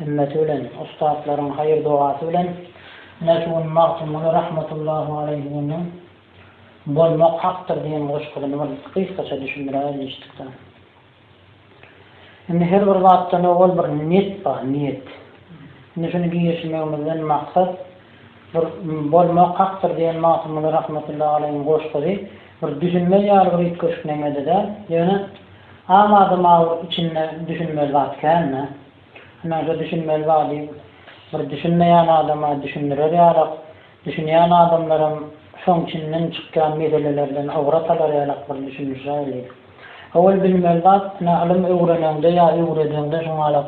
Himmeti bilen, ussatlaryň haýyr-dogasy bilen ine şu gün Magtymguly rahmetullahu aleýhiniň Bolmak hakdyr diýen goşgusyny bir gysgaça düşündiräýeli eşitdikden. Indi her bir zatdan owal bir niýet bar, niýet. Indi şuny girişmegimizden maksat bir Bolmak hakdyr diýen Magtymguly rahmetullahu aleýhiniň goşgusy bir düşünmez ýaly bir üýtgeşik neme-de däl, ýöne am adama bir içinde düşünmez zat kän-dä. Hemäşe düşünmeli zady bir düşünmeýän adama düşündirer ýalak, düşünýän adamlaram şoň içinden çykýan meselelerden ybrat alar ýalak bir düşünişer diýdi. Owal bilmeli zat, ine, ylym öwreneňde ýa öwredeňde şuňalak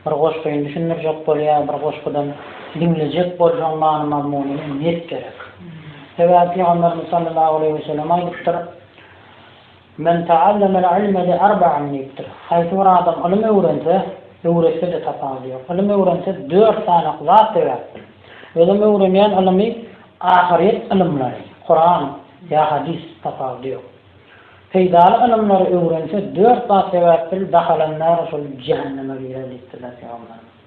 bir goşgyny düşündirjek bol ýa bir goşgudan diňlejek bolsaň many-mazmunyny net gerek. Sebäbi Pygamberimiz sallallahu aleýhi we sellem aýdypdyr, Men ta'allamel ilme li arba'in diýipdir. Haýsy bir adam ylym öwrense, öwretse-de tapawudy ýok. Ylym öwrense dört sanak zat sebäpdir. Özem öwrenýän ylymy ahyryýet ylymlary, Kuran ýa hadys, tapawudy ýok. Peýdaly ylymlary öwrense dört zat sebäpdir, dahalanýar şol jähenneme girer diýipdirler Pygamberimiz.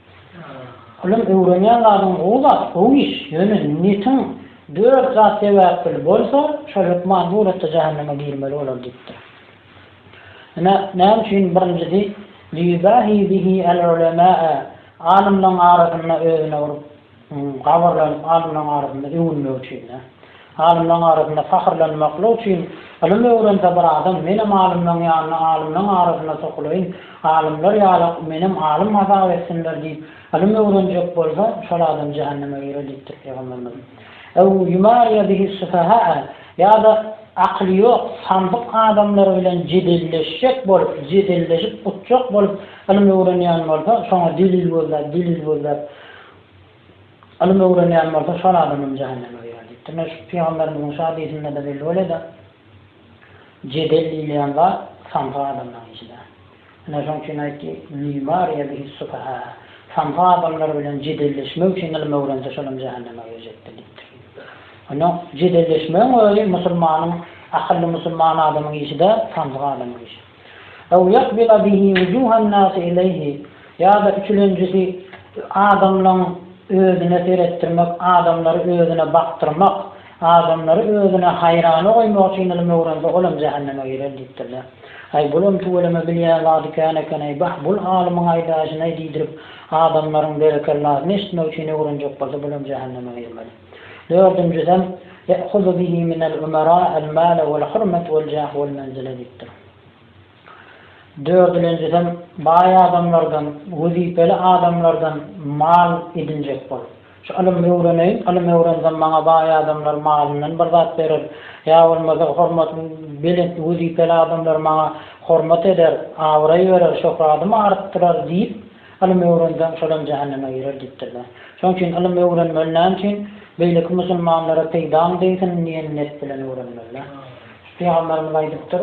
Ylym öwrenýän zadyň gowy zat, gowy iş, ýöne netiň dört zat sebäpli bolsa, şol hökman suratda jähenneme girmeli bolar diýipdir. Ine, näme üçin birinjisi Liýubahi bihi al-ulemaa, alymlaryň arasynda özüne bir Habarlanyp alymlaryň arasynda öwünmek üçin-dä. Alymlaryň arasynda pahyrlanmaklyk üçin ylym öwrense bir adam, menem alymlaryň ýanyna, alymlaryň arasyna sokulaýyn, alymlar ýaly menem alym hasap etsinler diýip, ylym öwrenjek bolsa, şol adam jähenneme girer diýipdir Pygamberimiz. Ew ýumaryýa bihi'ssufaha'a, ýa-da akyly ýok, samsyk adamlar bilen jedelleşjek bolup, jedelleşip utjak bolup ylym öwrenýän bolsa, şoňa delil gözläp, delil gözläp, Ylym öwrenýän bolsa şol adamam jähenneme girer diýipdir. Ine şu pygamberimiziň şu hadysynda-da belli bolýa-da, jedel diýilýän zat samsy adamlaryň işi däl. Ine şoň üçin aýtdy, Liýumaryýa bihi sufaha, samsy adamlar bilen jedelleşmek üçin ylym öwrense şolam jähenneme girjekdir diýipdir. Onda jedelleşmegiň özi musulmanyň, akylly musulman adamyň işi däl, samsyk adamyň işi. Ew ýakbida bihi wujuhan-nasi ileýhi, ýa-da üçülenjisi adamlaň özüne seretdirmek, adamlary özüne bakdyrmak, adamlary özüne haýrana goýmak üçin ylym öwrense, olam jähenneme girer diýipdirler. Aý, bulam tüweleme bilýän zady kän eken-eý, bah, bul alymyň aýdaýşyny-aý diýdirip, adamlaryň berekellasyny eşitmek üçin öwrenjek bolsa, bulam jähenneme girmeli. Dördünjiden, Ya'huzu bihi minel umara al-mala wal-hurmata wal-jaha wal-menzila diýipdir. Dördülenjiden, Baý adamlardan, wezipeli adamlardan mal edinjek bol. Şu ylym öwreneýin, ylym öwrensem maňa baý adamlar malyndan bir zat berer, ýa bolmasa hormat belent wezipeli adamlar maňa hormat eder, abraý berer, şöhradymy artdyrar diýip, Ylym öwrenseň, şolam jähenneme girer diýipdirler. Şonuň üçin ylym öwrenmeli näme üçin? Beýleki musulmanlara peýdaň degsin diýen net bilen öwrenmeli. Pygamberimiz aýdypdyr,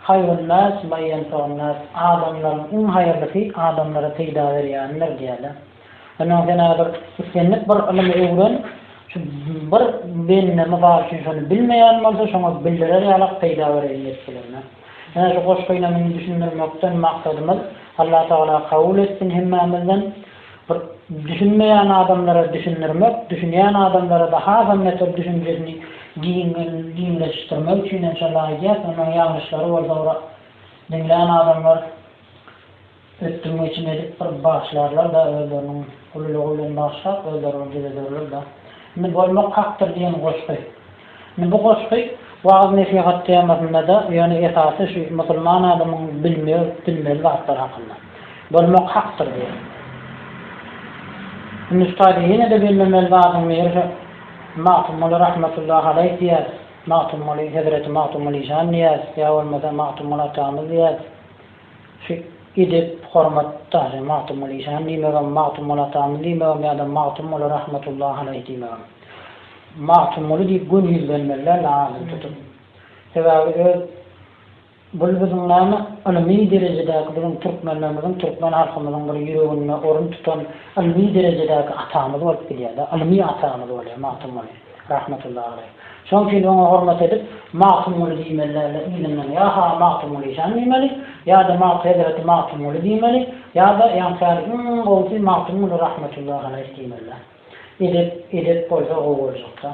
Haýrunnäs ma ýenfaunnäs, adamlaryň iň haýyrlysy adamlara peýda berýänidir diýýärler. Onsoň sen häzir islendik bir ylymy öwren, şu bir bende mysal üçin şony bilmeýän bolsa şoňa bildirer ýalak peýda bereýin diýip bilermen. Ine şu goşgy ine muny düşündirmekden maksadymyz Allah Tagala kabul etsin hemmämizden bir düşünmeýän adamlara düşündirmek düşünýän adamlarada hasam beter düşünjesini giňleşişdirmek üçinem şonda aýdýas ondan ýalňyşlary bolsa ora diňlän adamlar Ötdüm-geçim edip bir bagşlarlar-da özleriniň ululygy bilen bagşlap özleri bir düzederler-de. Indi Bolmak hakdyr diýen goşgy. Indi bu goşgy wagyz-nesihat temasynda-da, ýöne esasy şu musulman adamyň bilmeli, bilmeli zatlary hakynda. Bolmak hakdyr diýen. Indi şu taýda ýene-de bilmemeli zadyň biri şu Magtymguly rahmetullahi aleýh diýýäs, Magtymguly, hezreti Magtymguly şan diýýäs, ýa bolmasa Magtymguly atamyz diýýäs. Şu edep, hormat, daşy Magtymguly şan diýmegem, Magtymguly atamyz diýmegem ýa-da Magtymguly rahmetullahy aleýh diýmegem. Magtymguly diýip göni ýüzlenmeliler la adyny tutup. Sebäbi öz bul biziň näme ylmy derejedäki biziň türkmenlerimiziň, türkmen halkymyzyň bir ýüreginde orun tutan ylmy derejedäki atamyz bolup gidýär-de, ylmy atamyz bolýar Magtymguly. Rahmetullahi aleýh. Şoň üçin oňa hormat edip, Magtymguly diýmeliler-le yzyndan. Ýa Hawa Magtymguly jan diýmeli, ýa-da Magt hezreti Magtymguly diýmeli, ýa-da ýaňsary iň gowusy Magtymguly rahmetullahi aleýh diýmeliler. Edep, edep bolsa gowy boljakda.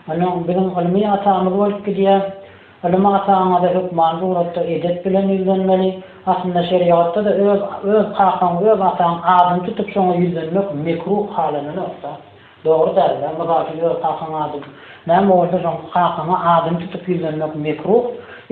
Ynha, biziň ylmy atamyz bolup gidýär. Ylym ataňyza hökmany suratda edep bilen ýüzlenmeli. Aslynda şerigatda-da öz, öz kakaň, öz ataň adyny tutup, şoňa ýüzlenmek mekruh halanylakda. Dogry dälde mysal üçin öz kakaň ady näme bolsa şoň kakaňa adyny tutup ýüzlenmek mekruh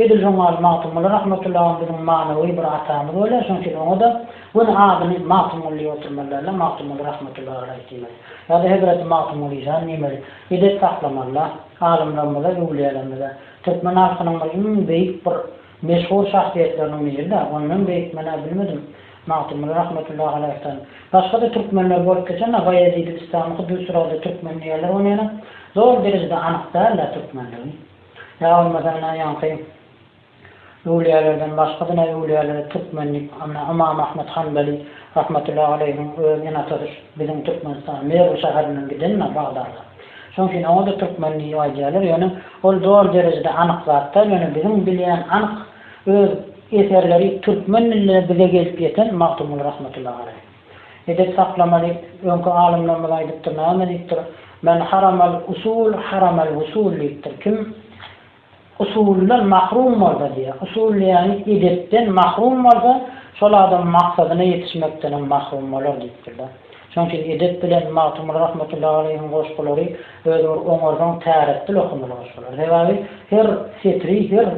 edil şoň ýaly Magtymguly Rahmetullahym biziň manawy bir atamyz bolýar şoň üçin oňa da göni adyny Magtymguly diýip oturmaly dälde Magtymguly Rahmetullahy Alaýh diýmeli ýada Hezreti Magtymguly işan diýmeli edep saklamalyda alymlarymyza öwlüýälerimize türkmen halkynyň bir iň beýik bir Meşhur şahsyýetleriniň biri-dä, ony men beýikmen-ä bilmedim, Magtymguly rahmetullahi aleýhden. Başga-da türkmenler bolup geçen-ä, Baýezid-i Bistamy huddi şu arada türkmen diýerler, ony ýene zor derejede anyk däl-ä türkmenligi. Ýa bolmasa ine ýaňky öwlüýälerden başga-da öwlüýälere türkmen diýip, ine Ymam Ahmet Hanbeli rahmetullahi aleýhiň öz ene-atasy şu biziň Türkmenistan, Merw şäherinden giden-ä Bagdada. Şoň üçin oňa-da türkmen diýip aýdýarlar, ýöne ol doly derejede anyk zat däl, ýöne biziň bilýän anyk öz eserleri türkmen dilinde bize gelip ýeten Magtymguly Rahmetullahi Aleý. Edep saklama diýip, öňki alymlarymyz aýdypdyr, näme diýipdir, Men haramel usul, haramel wusul diýipdir. Kim Usuldan mahrum bolsa diýýär. Usul diýýäni edepden mahrum bolsa, şol adam maksadyna ýetişmekdenem mahrum bolar diýipdir-de. Şonuň üçin edep bilen Magtymguly rahmetullahi aleýhiň goşgulary özi bir oňarsaň täretdil okamaly goşgular. Sebäbi her setri, her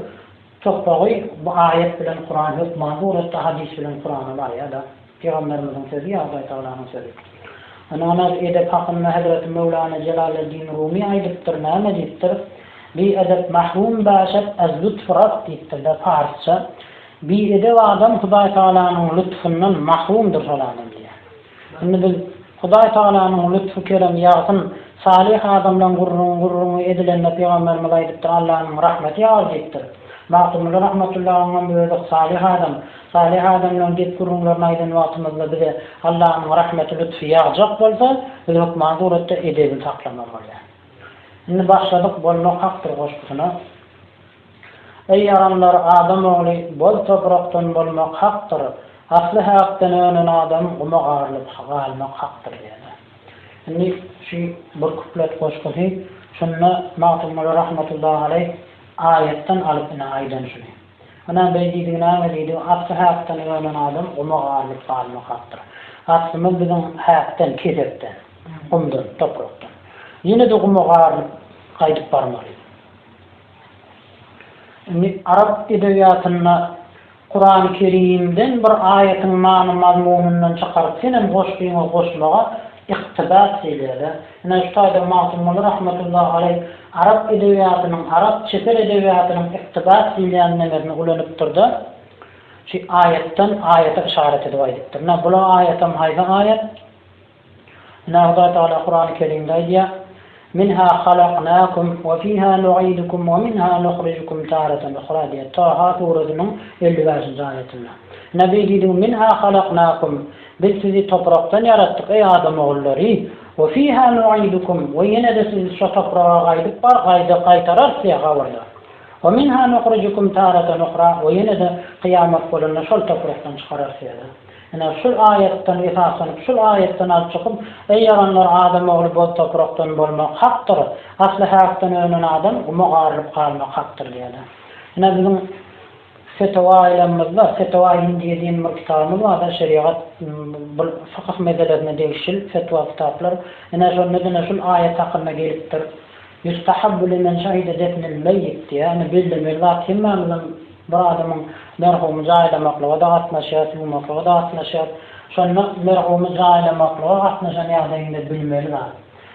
topbagy bu aýat bilen Kuran hökman suratda hadys bilen Kurana barýar-da. Pygamberimiziň sözi ýa Hudaý Tagalanyň sözi? Ynanat edep hakynda Hezreti Möwlana Jelaleddin Rumy aýdypdyr, näme diýipdir? Bi edep mahrum bäşet az lütf Rab diýipdir-de, parsça, Bi edep adam Hudaý Tagalanyň lütfündan mahrumdyr şol adam diýýär. Indi biz. Hudaý Tagalanyň lütfü keremi ýagsyn, salyh adamlaň gürrüň gürrüňi edilende pygamberimiz aýdypdyr Allanyň rahmeti ýagar diýipdir. Magtymguly Rahmatullahanyňam özi salyh adam, salyh adamlaň gep gürrüňlerini aýdan wagtymyzda bize Allanyň rahmeti lütfi ýagjak bolsa biz hökman suratda edebini saklamaly bolýar. Indi başladyk bolmak hakdyr goşgusyna. Eý, adamlar, adam ogly boz toprakdan bolmak hakdyr, asly häkden önen adam guma garylyp galmak hakdyr diýýärler. Indi şu bir kuplet goşgusy şunda Magtymguly rahmetullahi aleýh aýatdan alyp ine aýdan şuny. Ynha beý diýdigi näme diýdi, asly häkden önen adam guma garylyp galmak hakdyr. Aslymyz biziň häkden, kesekden, gumdan, toprakdan. Ýene-de guma garylyp gaýdyp barmaly. Indi arap edebiýatynda Kurany Kerimden bir aýatyň many-mazmunyndan çykaryp senem goşgyňa goşmaga ykdybas edýär-dä. Ine şu taýda Magtymguly rahmetullahi aleý arap edebiýatynyň, arap çeper edebiýatynyň ykdybas diýilýän nemesini ulanypdyr-da, şu aýatdan aýata yşarat edip aýdypdyr. Ine bul aýatam haýsy aýat? Hudaý Tagala Kurany Kerimde aýdýar, Minha halaknakum we fiha nu'idukum we minha nuhrijukum taratan uhra diýýär, Taha suresynyň elli bäşinji aýatynda. Nabi diýdi, Minha halaknakum, Biz sizi toprakdan ýaratdyk, eý adam ogullary, we fiha nu'idukum, we ýene-de sizi şo topraga gaýdyp bar, gaýda, gaýtararys, diýýär, gabrda, we minha nuhrijukum taratan uhra, we ýene-de kyýamat bolanda şol toprakdan çykararys, diýýär. Ine, şul aýatdan esaslanyp, şul aýatdan alyp çykyp, Eý, ýalanlar, adam ogly boz toprakdan bolmak hakdyr, asly häkden önen adam guma garylyp galmak hakdyr diýýärler. Ine, biziň Fetewa aýlamymyzda, Fetewa Hindiýe diýen bir kitabymyz bardyr, şerigat, bu fykyh meselelerine degişil fetwa kitaplar. Ine, şonda diňe şul aýat hakynda gelipdir, Ýustahabbu limen şahide defnel meýit diýýär. Ine, bellemeli zat, hemmämiziň Bir adamyň merhumy jaýlamaklyga-da gatnaşýar, ýuwmaklyga-da gatnaşýar. Şonda merhumy jaýlamaklyga gatnaşan ýagdaýyňda bilmeli zat,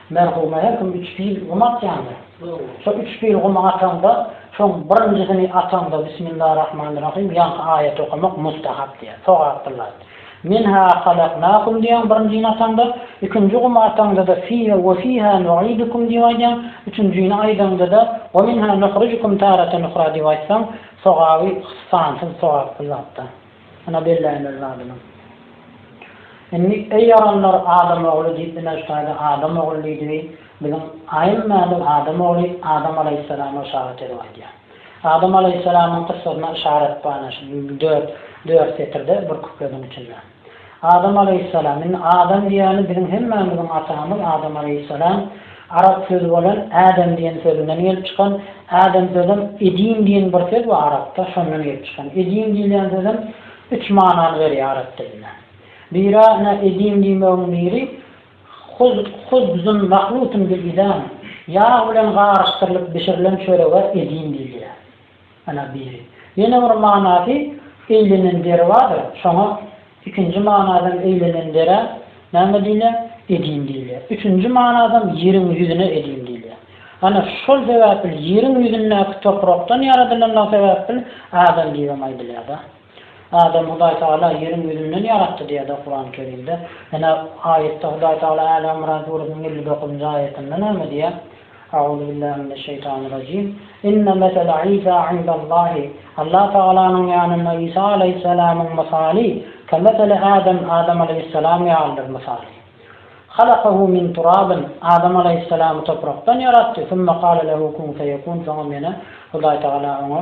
merhuma her kim üç pil gum atýandyr. Şo üç pil gumy ataňda, şoň birinjisini ataňda Bismillarahmanirrahym ýaňky aýaty okamak mustahap diýýär, sogapdyr zat. Men ha halaknakum diýýän birinji ýataňda, ikinji gum ataňdada fiha we fiha nuidukum diýip aýdýaň, üçünjini aýdaňdada we minha nuhrijukum taratan uhra diýip aýtsaň, sogaby sansyz sogaply zatda. Ynha belläýmeli zadyňyz. Indi eý ýaranlar adam ogly diýip ine şutaýda adam ogly diýdibi biziň aýymmämiz adam ogly adam alaýhyssalama yşarat edip aýdýa. Adam alaýhyssalamyň kyssasyna yşarat bar ana şu dört, dört setirde, bir kupletiň içinde. Adam alaýhyssalam, indi Adam diýýäni biziň hemmämiziň atamyz Adam alaýhyssalam, arap sözi bolan Adam diýen sözünden gelip çykan, Adam sözem edim diýen bir söz bar arapda, şondan gelip çykan. Edim diýilýän sözem üç manany berýär arap dilinde. Biri-ä ine edim diýmegiň biri, Huz, huzbzun mahlutun bil idam, ýag bilen garyşdyrylyp bişirilen çörege idin diýilýär. Ana biri. Ýene bir manasy, eýlenen deri bardyr, şoňa ikinji manadan eýlenen derä näme diýilýär? Idin diýilýär. Üçünji manadan ýeriň ýüzüne idin diýilýär. Ana, şol sebäpli ýeriň ýüzündäki toprakdan ýaradylandygy sebäpli adam diýibem aýdylýar-da. Adamy Hudaý Tagala ýeriň ýüzünden ýaratdy diýýär-de Kurany Kerimde. Ýene aýatda Hudaý Tagala Äli Ymran süresiniň elli dokuzynjy aýatynda näme diýýär? Auzubillahi mineşşeýtanirrajim. Inne mesele Isa indallahi, Allah Tagalanyň ýanynda Isa alaýhyssalamyň mysaly, kemeseli Adam, Adam alaýhyssalam ýalydyr mysaly. Halakahu min turabin, Adam alaýhyssalamy toprakdan ýaratdy, summa kale lehu kun feýekun, soňam ýene Hudaý Tagala oňa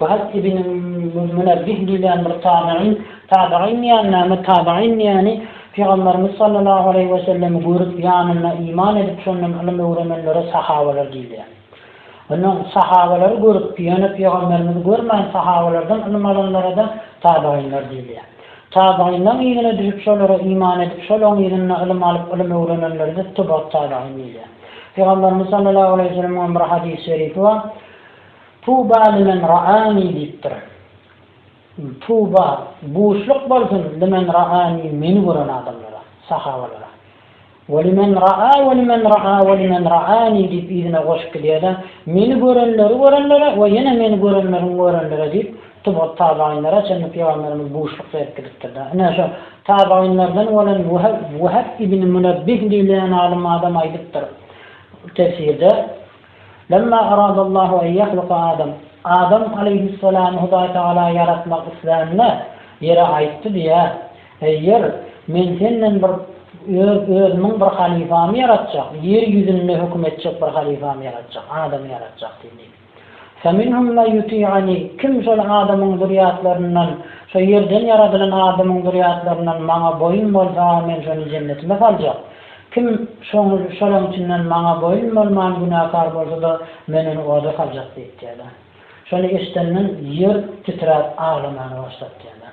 Wahb ibn Munebbih diýlen bir tabeýin, tabeýin diýýän näme, tabeýin diýýäni Pygamberimiz sallallahu aleýhi we sellemi görüp, ýanynda iman edip, şondan ylym öwrenenlere sahabeler diýilýär. Onda sahabalary görüp, ýöne Pygamberimizi görmän sahabalardan ylym alanlara-da tabeýinler diýilýär. Tabeýinleň yzyna düşüp, şolara iman edip, şolaň yzynda ylym alyp, ylym öwrenenlere-de tebau't tabeýin diýilýär. Pygamberimiz sallallahu aleýhi we sellemiň bir hadys-şerifi bar. Tuba limen ra'ani diýipdir. Tuba, buşluk bolsun limen ra'ani meni gören adamlara, sahabalara. We limen ra'a we limen ra'a we limen ra'ani diýip yzyna goşup gidýärler. Meni görenleri görenlere we ýene meni görenleriň görenlere diýip tuba tabainlere çenli pygamberimiz buşluk berip gidipdir-de. Ine şo tabainlerden bolan Weheb ibn Münebbih diýilýän alym adam aýdypdyr tefsirde. Lemma aradallahu en ýahluka Adam, Adam aleýhyssalamy Hudaý Tagala ýaratmak islände, Ýere aýtdy diýýär, Eý Ýer, men senden bir Öz Özümiň bir halyfamy ýaratjak, ýer ýüzünde höküm etjek bir halyfamy ýaratjak, Adamy ýaratjak diýdi diýip. Feminhum men ýuti'ani, kim şol Adamyň zürýatlaryndan, şo ýerden ýaradylan Adamyň zürýatlaryndan maňa boýun bolsa, men şony jennetime saljak. Kim şoňul şolaň içinden maňa boýun bolman günäkar bolsa-da, men ony oda saljak diýipdýärler. Şony eşidenden ýer titräp aglamana başlapdýärler.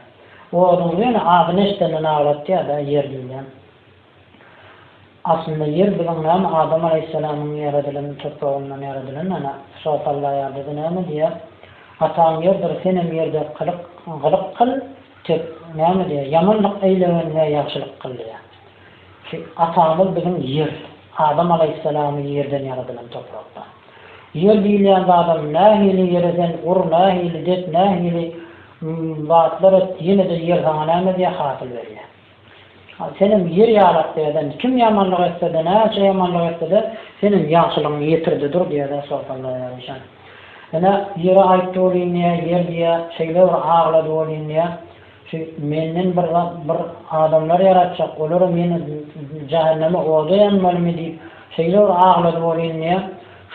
Oduň ýöne adyny eşidenden aglatýar-da, ýer diýilýär. Aslynda ýer biziň näme Adam alaýhyssalamyň ýaradylan topragyndan ýaradylan ana, şo sallaýardy-da näme diýýär, Ataň ýerdir, senem ýer dek kylyk, gylyk kyl, tek näme diýýär, ýamanlyk eýlegen we ýagşylyk kyl diýýär. Ki atamyz biziň ýer, Adam alaýhyssalamy ýerden ýaradylan toprakda. Ýer diýilýän zadam nähili ýere sen ur nähili dek nähili zatlar et ýenede ýer saňa näme edýär hasyl berýär. Senem ýer ýalak diýerden kim ýamanlyk etsede näçe ýamanlyk etsede senem ýagşylygyň ýetirde dur diýerden sorsanlar ýaryşan. Ine ýere aýtdy bolýyn diýä ýer diýä şeýle bir aglady bolýyn diýä. Şu menden bir zat bir adamlar ýaratjak, olaram ýene jähenneme oda ýanmalymy diýip şeýle bir aglady welin diýýär,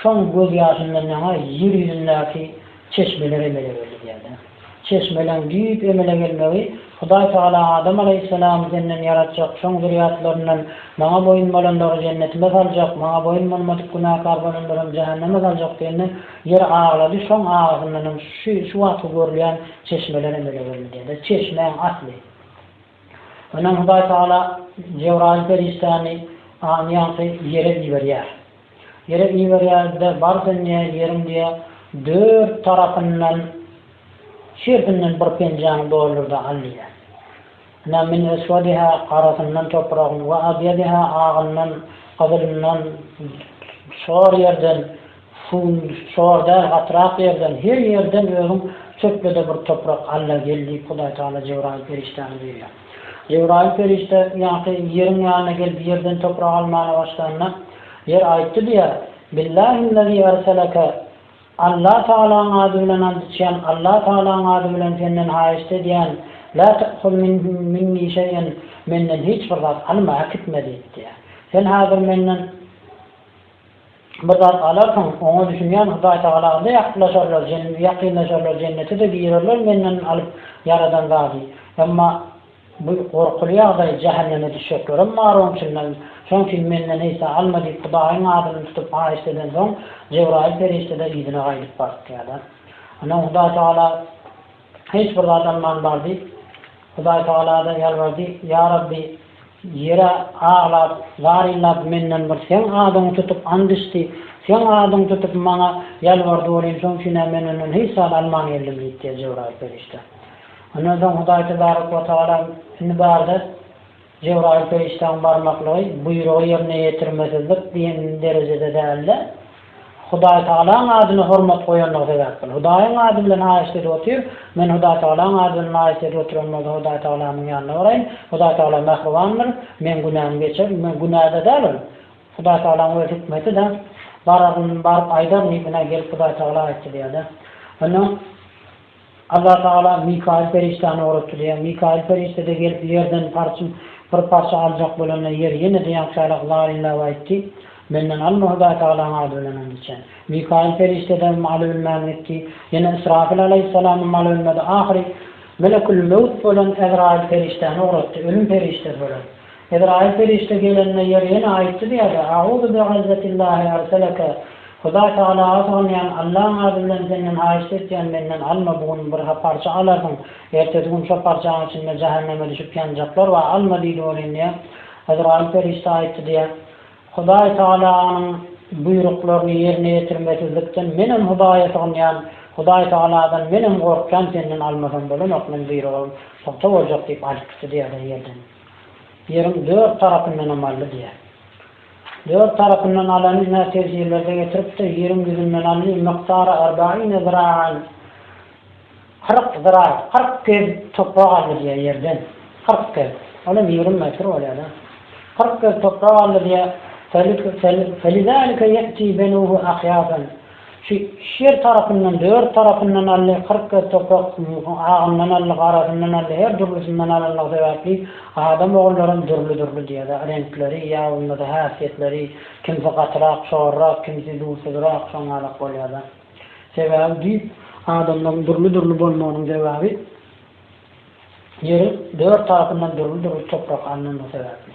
şoň göz ýaşyndan ýaňa ýer ýüzündäki çeşmeler emele geldi diýýärdi. Çeşmeleň düýp emele gelmegi Hudaý Tagala Adam alaýhyssalamy senden ýaratjak, şoň zürýatlaryndan Maňa boýun bolanlary jennetime saljak, Maňa boýun bolmadyk günäkär bolanlaram jähenneme saljak diýende, Ýeri aglady, şoň agazyndanam şu şu wagtky görülýän çeşmeler emele geldi diýdi. Çeşmäň asly. Ondan Hudaý Tagala Jebraýyl perişdäni aňy ýaňky ýere iberýär. Ýere iberýär-de, Bar sen diýýä, ýeriň diýýä dört tarapyndan, şertinden bir penjäňi doldur-da al diýýä. Ene, men eswediha, garasyndan, topragyny, we abyadiha, agyndan, gyzylyndan, şor ýerden, suwundan, şor däl, gatrak ýerden, her ýerden özüň çöple-de bir toprak al-la gel diýip, Hudaý Tagala Jebraýyl perişdäni buýurýar. Jebraýyl perişde ýaňky ýeriň ýanyna gelip ýerden toprak almana başlanda, ýer aýtdy diýýär, Billahillazi erseleke, Alla Tagalaň ady bilen and içýän Alla Tagalaň ady bilen senden haýyşt edýän La ta'huz minni şeý'en menden hiç bir zat alma äkitme diýip diýýär. Sen häzir menden bir zat alarsyň oňa düşünýän Hudaý Tagala-da ýakynlaşarlar ýakynlaşarlar jennete-de girerler menden alyp ýaradan zady. Emma. Bu gorkuly ýagdaý jähenneme düşjeklerem bar oň içinden, şoň üçin menden hesap alma diýip Hudaýyň adyny tutup haýyşt edensoň Jebraýyl perişdede yzyna gaýdyp bartýada. Ondan Hudaý Tagala hiç bir zat alman bar diýip Hudaý Tagalada ýalbardy, ýa Rabbi ýere aglap, zar illap menden bir seň adyňy tutup and içdi, seň adyňy tutup maňa ýalbardy welin şoň üçin-ä men ondan hiç zat alman geldim diýipdiýä Jebraýyl perişde. Ondan soň Hudaý tebarek we tagala, Indi bar-da, Jebraýyl perişdäň barmaklygy, buýrugy ýerine ýetirmesizlik diýen derejede däl-de, Hudaý tagalaň adyna hormat goýanlygy sebäpli, Hudaýyň ady bilen haýyşt edip otyr, men Hudaý tagalaň ady bilen haýyşt edip oturan bolsa Hudaý tagalamyň ýanyna baraýyn, Hudaý tagala mähribandyr, meň günämi geçer, men günä-de däl ol, Hudaý tagalaň öz hikmeti-dä, bararyn, baryp aýdaryn diýip, ine, gelip Hudaý tagala aýtdy diýer-de. Onda. Allah Tagala Mikaýyl perişdäni ugratdyrýar. Mikaýyl perişde-de gelip ýerden parçm bir parça aljak bolanda ýer ýene-de ýaňşarak laýynlap aýtdy, Menden alma Hudaýtagalaň ady bilen and içen. Mikaýyl perişde-de alybilmän gitdi. Ýene Ysrafyl alaýhyssalamam alybilmedi. Ahyry Melekül Mewt bolan Ezraýyl perişdäni ugratdy, ölüm perişdesi bolan. Ezraýyl perişde gelende ýer ýene aýtdy diýýärdi, Auzu bi'yzzatillahi arsaleke, Hudaý tagalaga sygynýan, Allaň ady bilen senden haýyşt etýän menden alma bu gün bir parça alarsyň, ertesi gün şo parçaň içinde jähenneme düşüp ýanjaklar bar, alma diýdi welin diýýär, Ezraýyl perişde aýtdy diýýär, Hudaý tagalanyň buýruklaryny ýerine ýetirmesizlikden menem Hudaýa sygynýan, Hudaý tagaladan menem gorkýan senden almasam bolanok, men buýrugym pugta boljak diýip alyp gitdi diýýärler ýerden. Ýeriň dört tarapyndan hem aldy diýýär. Dört tarapyndan alany iner tefsirlerde getiripdir, Ýeriň ýüzünden aldy, mykdary arbaine ziraen, kyrk zira, kyrk gez toprak aldy diýýär ýerden, kyrk gez, ol hem ýigrimi metr bolýar-da. Kyrk gez toprak aldy diýýär, Fe-li-fe-li-fe-li-zalike ýe'ti benuhu ahýasan. Şu iki ýer tarapyndan, dört tarapyndan aldy, kyrk göz toprak, agyndan aldy, garasyndan aldy, her dürlüsinden alanlygy sebäpli adam ogullaram dürli-dürli diýer-dä, reňkleri ýa bolmasa häsiýetleri, kimsi gatyrak, çorrak, kimsi dursuzrak, şoň ýalak bolýar-da. Sebäbi düýp adamlaryň dürli-dürli bolmagynyň sebäbi ýeriň dört tarapyndan dürli-dürli toprak alnanlygy sebäpli.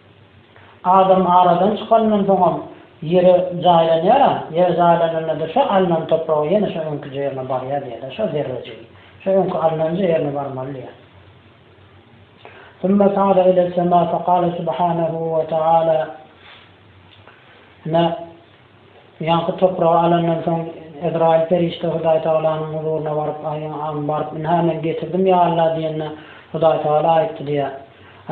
Adam aradan çykanyndan soňam ýere jaýlanýar-a, ýere jaýlananda-da şo alnan topragy ýene şo öňki jerine barýar diýýär-de, şo zerrejigi. Şo öňki alnan jerine barmaly diýýär. Summa sa'ada iles-sema fekale subhanehu we ta'ala, Ine, Ýaňky topragy alandan soň, Ezraýyl perişde Hudaýtagalanyň huzuryna baryp, Aý, baryp, ynha, men getirdim, ýa Alla diýende, Hudaýtagala aýtdy diýýär,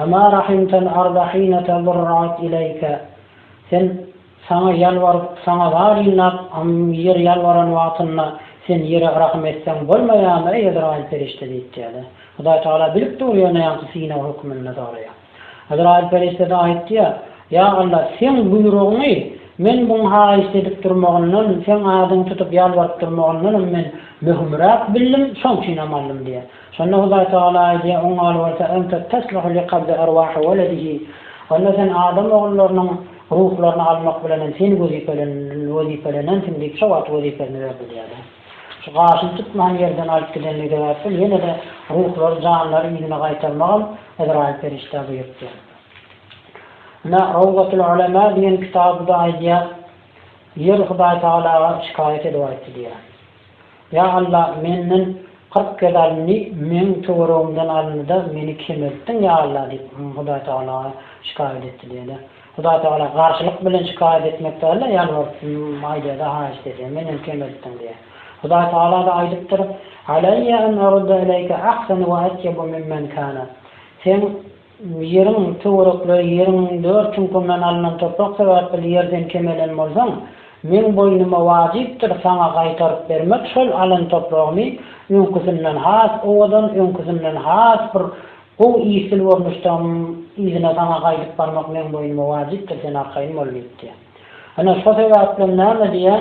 Emâ rahimtel arda hîne tezerra'at ileýke, Sen Saňa ýalbaryp, Saňa zar ýygnap, ýer ýalbaran wagtynda, Sen ýere rahym etseň bolmaýarmy, eý, Ezraýyl perişde diýip diýýär-de. Hudaýtagala bilip dur, ýöne ýaňky synag hökmünde soraýar. Azraýyl perişdede aýtdy-ýa, Ýa Alla, Seň buýrugyňy, men buň haýyşt edip durmagyndan, Seň adyňy tutup ýalbaryp durmagyndanam men möhümräk bildim, şoň üçinem aldym diýýär. Şonda Hudaý Tagala aýdýar, Oň ýaly bolsa, Ente tesluhu li kabzi erwahi weledihi, onda sen adam ogullarynyň ruhlaryny almak bilenem sen wezipelenensiň diýip, şo wagt wezipesini berdi diýýär-de. Şu gaşyny tutman ýerden alyp gidenligi sebäpli ýene-de ruhlary, janlary yzyna gaýtarmagam Ezraýyl perişdä buýrupdy. Ine, Rowzatul Ulema diýen kitabyda aýdýar, Ýer Hudaý Tagalaga şikaýat edip aýtdy diýýär, Ýa Alla, menden kyrk gez alyndy, meň töweregimden alyndy-da, meni kemeltdiň, ýa Alla diýip, Hudaý Tagalaga şikaýat etdi diýýär-de. Hudaýtagala garşylyk bilen şikaýat etmek däl-de, ýalbaryp aýdýar-da, haýyşt edýär, Menem kemeltdiň diýýär. Hudaýtagala-da aýdypdyr, Alaýýa an arudda ileýke ahsana we atýaba mimmen kana. Seň ýeriň töwerekleri ýeriň dört çuňkuryndan alnan toprak sebäpli ýerden kemelen bolsaň, meň boýnuma wajypdyr saňa gaýtaryp bermek şol alan topragymy öňküsinden has owadan, öňküsinden has bir Gowy işsiz görnüşdäm yzyna saňa gaýdyp barmak meň boýnuma wajypdyr sen arkaýyn bol diýipdi. Ene şo sebäplem näme diýýä?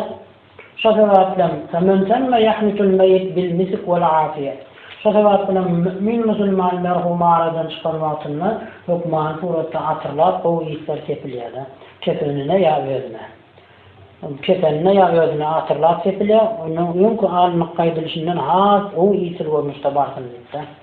Şo sebäplem, Femen temme yahnitul meýit bil misik wal afiýe. Şo sebäp bilen mü'min musulman merhumy aradan çykan wagtynda hökmany suratda atyrlap gowy yslar sepilýär-de. Kepenine ýa özüne. Kepenine ýa özüne atyrlap sepilýär. Ondan öňki alnyp gaýdylyşyndan has gowy işsiz görnüşde barsyn diýip-de.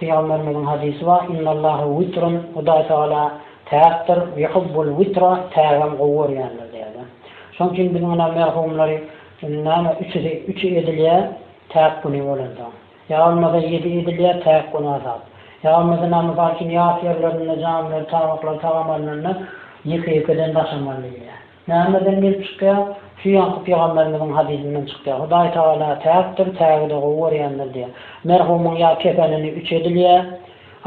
Pygamberimiziň hadysy bar, Innallaha witrun, Hudaý Tagala täkdir, yuhibbul witra, tägem gowy görýändir diýýärler. Şonuň üçin biz muna merhumlary näme üçüsi üç edilýär, täk güni bolanda. Ýa bolmasa ýedi edilýär, täk gün azap. Ýa bolmasa näme mysal üçin ýas ýerlerinde jamiler, tabaklar tagam alnanda ýeke-ýekeden daşamaly diýilýär. Nämeden gelip çykýar? Şu Ýakup pygamberimiziň hadysyndan çykýar. Hudaý Tagala täkdir, tägi-de gowy görýändir diýýär. Merhumyň ýa kefenini üç edilýär,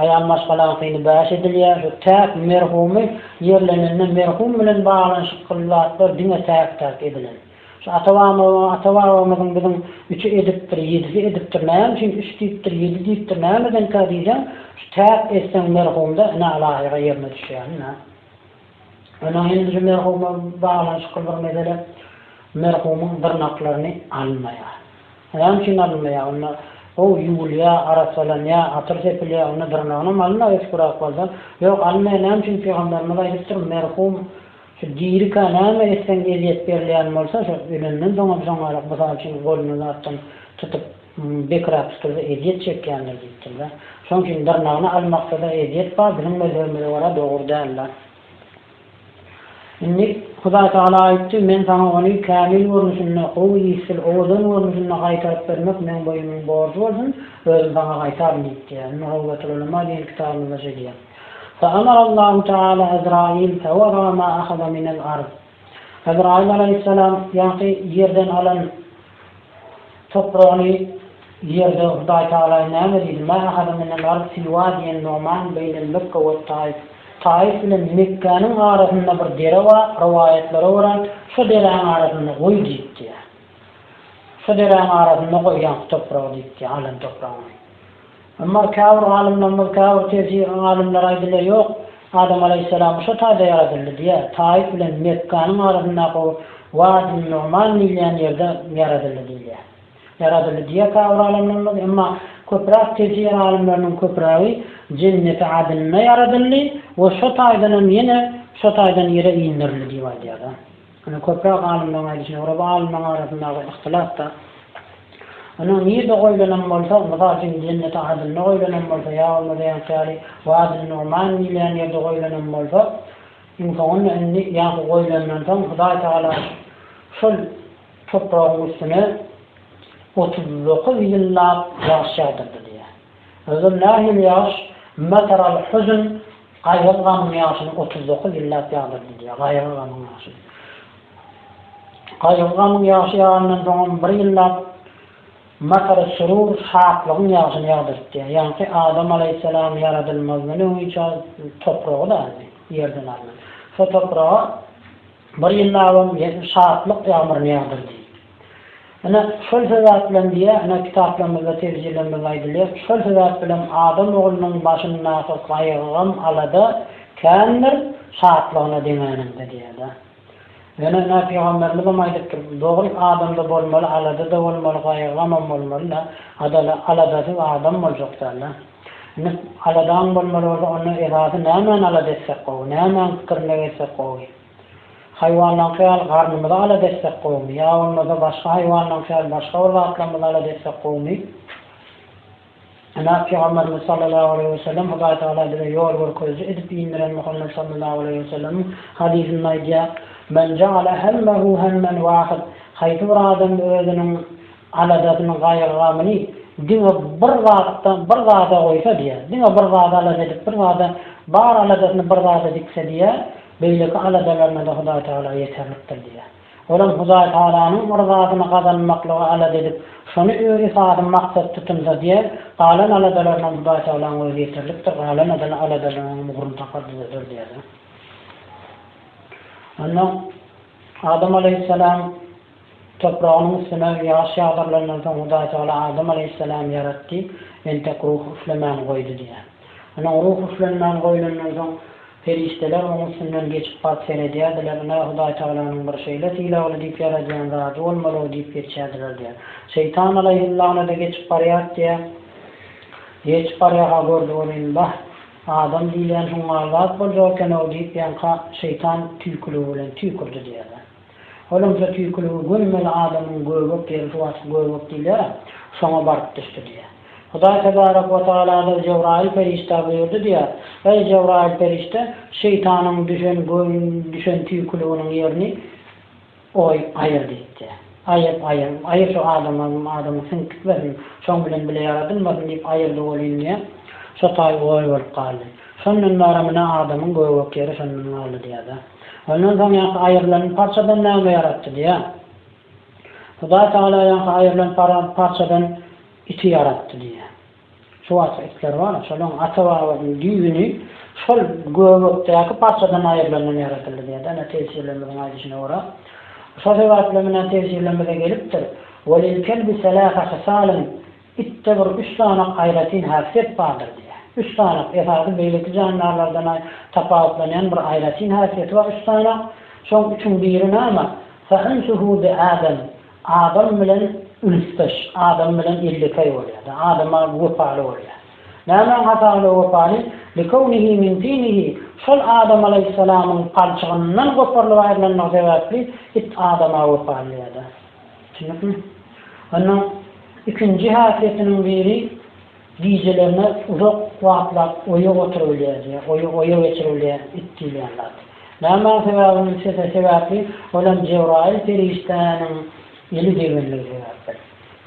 aýal maşgalaňkyny bäş edilýär. Şu täk merhumy ýerlenende merhum bilen baglanyşykly zatlar diňe täk-täk edilen. Şu ata-babamyzyň, ata-babamyzyň biziň üçi edipdir, ýedisi edipdir, näme üçin üç diýipdir, ýedi diýipdir, nämedenkä diýseň, şu täk etseň merhumda ine alahyga ýerine düşýär, ine. Onuň hindiji merhuma baglanyşykly bir mesele, merhumyň dyrnaklaryny almaýar. Näme üçin alynmaýar? Onda gowy ýuwulýar, arassalanýar, atyr sepilýär, onda dyrnagynam alynmagy ötükräk bolsa, ýok, alynmaýar, näme üçin? Pygamberimiz aýdypdyr, Merhum şu dirikä näme etseň ezýet berilýän bolsa, şo ölenden soňam şoňaýrak, mysal üçin, goluny zatdan tutup, Bekrapskyza ezýet çekýändir diýipdirler. Şoň üçin dyrnagyny almaksada ezýet bar, biziň mezhebimize görä dogry däl zat. Indi Hudaý Tagala aýtdy, Men saňa ony kämil görnüşinde, gowy işsiz, owadan görnüşinde gaýtaryp bermek meň boýnumyň borjy bolsun, özüm saňa gaýtaryn diýipdir. Indi Rawdatululema diýen kitabymyzda şeýdýär. Feamarallahu Taala Ezrail fewara ma ahada minel ard. Ebraýym alaýhyssalam ýaňky ýerden alan topragyny ýerde Hudaý Tagala näme diýdi, Ma ahada min al-ard fi wadiýin Nu'man beýnel Mekge we Taif, Taif bilen Mekgäniň arasynda bir dere bar, rowaýatlara görä, şo deräň arasynda goý diýipdi. Şo deräň arasynda goý ýaňky topragy diýipdi, alan topragyny. Emma käbir alymlarymyz, käbir tefsir alymlary aýdylýar, ýok, Adam alaýhyssalamy şo taýda ýaradyldy diýýär, Taýyf bilen Mekganyň arasyndaky o Wadi-n-Numan diýilýän ýerde ýaradyldy diýilýär. Ýaradyldy diýýär käbir alymlarymyz, emma köpräk tefsir alymlarynyň köprägi Jenneti Adynda ýaradyldy we şo taýdanam ýene şo taýdan ýere indirildi diýip aýdýar-da. Ine, köpräk alymlaryň aýdyşyna görä, bu alymlaryň arasyndaky yhtylat-da, ony nirde goýlanam bolsa, mysal üçin, Jenneti Adynda goýlanam bolsa, ýa bolmasa ýaňky ýaly Wady Numan diýilýän ýerde goýlanam bolsa, iň soňunda indi ýaňky goýlandan soň Hudaý Tagala şol topragyň üstüne otuz dokuz ýyllap ýagyş ýagdyrdy diýýär. Özem nähili ýagyş? Matar al-huzn, Gaýgyly gamyň ýaşyny otuz dokuz ýyllap ýazyr diýýär. Gaýgyly gamyň ýaşy. Gaýgyly gamyň ýaşy ýagandan soňam bir ýyllap Masary Surur şatlygyň ýaşyny ýazdyryp diýýär. Ýaňky Adam alaýhyssalam ýaradylmazdan öňüçä topragy-da aldy, ýerden aldy. Şo topraga. Bir jyllabym ýetti şatlyk ýagmyryny ýagdyrdy. Ine, şol sebäp bilen diýýär, ine, kitaplarymyzda tebjirlemede aýdylýar, şol sebäp bilen adam oglunyň başyndaky gaýgy-gam, alada kändir, şatlygyna deňäninde diýýär-de. Ýöne, ine, pygamberimiz-em aýdypdyr, dogry, adamda bolmaly, alada-da bolmaly, gaýgy-gamam bolmaly-da, adaly, aladasyz adam boljak däl-de. Ine, aladaň bolmaly bolsa, onda esasy nämäni alada etsek gowy, nämäň pikirine gelsek gowy? Haýwanlaňky ýaly garnymyzy alada etsek gowumy ýa bolmasa başga haýwanlaňky ýaly başga bir zatlarymyzy alada etsek gowumy? Ine, Pygamberimiz sallallahu aleýhi we sellem Hudaý Tagala bize ýol görkeziji edip indiren Muhammet sallallahu aleýhi we sellemiň hadysynda aýdýar, Men jaala hemmehu hemmen wahid, Haýsy bir adam özüniň Aladasyny, gaýgy-gamyny diňe bir zatda, bir zada goýsa diýýär. Diňe bir zada alada edip, bir zada, bar aladasyny bir zada dikse diýýär, beýleki aladalaryna-da Hudaý Tagala ýeterlikdir diýýär. Olam Hudaý Tagalanyň yzasyny gazanmaklyga alada edip, şony özi sady maksat tutunsa diýýär, galan aladalarynam Hudaý Tagalaň özi ýeterlikdir, galan adala aladalarynyň ugruny tapar düzeder diýýär. Onda Adam alaýhyssalam Topragynyň üstüne ýaş ýagdyrylandan soň Hudaýtagala Adam aleýhissalamy ýaratdy, entek ruh üflemän goýdy diýýär. Ine, ruh üflenmän goýlandan soň, perişdeler oň üstünden geçip baryp seredýärdiler, ine, Hudaýtagalanyň bir şeýle sylagly diýip ýaradýan zady bolmaly-ow diýip geçýärdiler diýýär. Şeýtan aleýhillana-da geçip barýar diýýär. Geçip barýarka gördi welin, Bah, adam diýilýän şuňňal zat boljak eken-ow diýip, ýaňka şeýtan tüýküligi bilen tüýkürdi diýýärler. Olamja tüýküligi gömmeli adamyň göbek ýeri suw atyp göbek diýilýär-ä, şoňa baryp düşdi diýýär. Hudaý tebarek we tagaladyr Jebraýyl perişdä buýurdy diýýär, Eý, Jebraýyl perişde, şeýtanyň düşen düşen tüýküliginiň ýerini oý, aýyr diýip diýýär. Aýyr, aýyr, aýyr şu adama, adama siňip gitmesin, şoň bilen bile ýaradylmasyn diýip aýyrdy welin diýýär, şo taý oý bolup galdy. Şondan bäri, mine, adamyň göbek ýeri şondan galdy diýýär-dä. Ondan soň ýaňky aýrylan parçadan näme ýaratdy diýýär. Hudaý Tagala ýaňky aýrylan parçadan iti ýaratdy diýýär. Şu wagtky itler bar, şolaryň ata-babasynyň düýbüni şol göbekdäki parçadan aýrylandan ýaradyldy diýýär-de, ine, tefsirlerimiziň aýdyşyna görä. Şo sebäpli, menä tefsirlerimize gelipdir, Welil kelbi selasa hysalyn, Itde bir üç sany aýratyn häsiýet bardyr diýýär. Üç sany, esasy beýleki jandarlardan-a tapawutlanýan bir aýratyn häsiýeti bar üç sany. Şoň üçüň biri näme? Fa'insuhu bi Adam, Adam bilen ülüsdeş, Adam bilen ýellekeý bolýar-da, Adama wepaly bolýar. Nämäň hasabyna wepaly? Likownihi min tinihi, şol Adam alaýhyssalamyň palçygyndan goparylyp aýrylandygy sebäpli it Adama wepalydyr-da. Düşündikmi? Onda ikinji häsiýetiniň biri gijelerine uzak wagtlap oýa oturybilýär diýýär. Oýa oýa geçiribilýär it diýilýän zat. Nämäň sebäbini se sebäpli ol hem Jebraýyl perişdäniň eli degenligi sebäpli.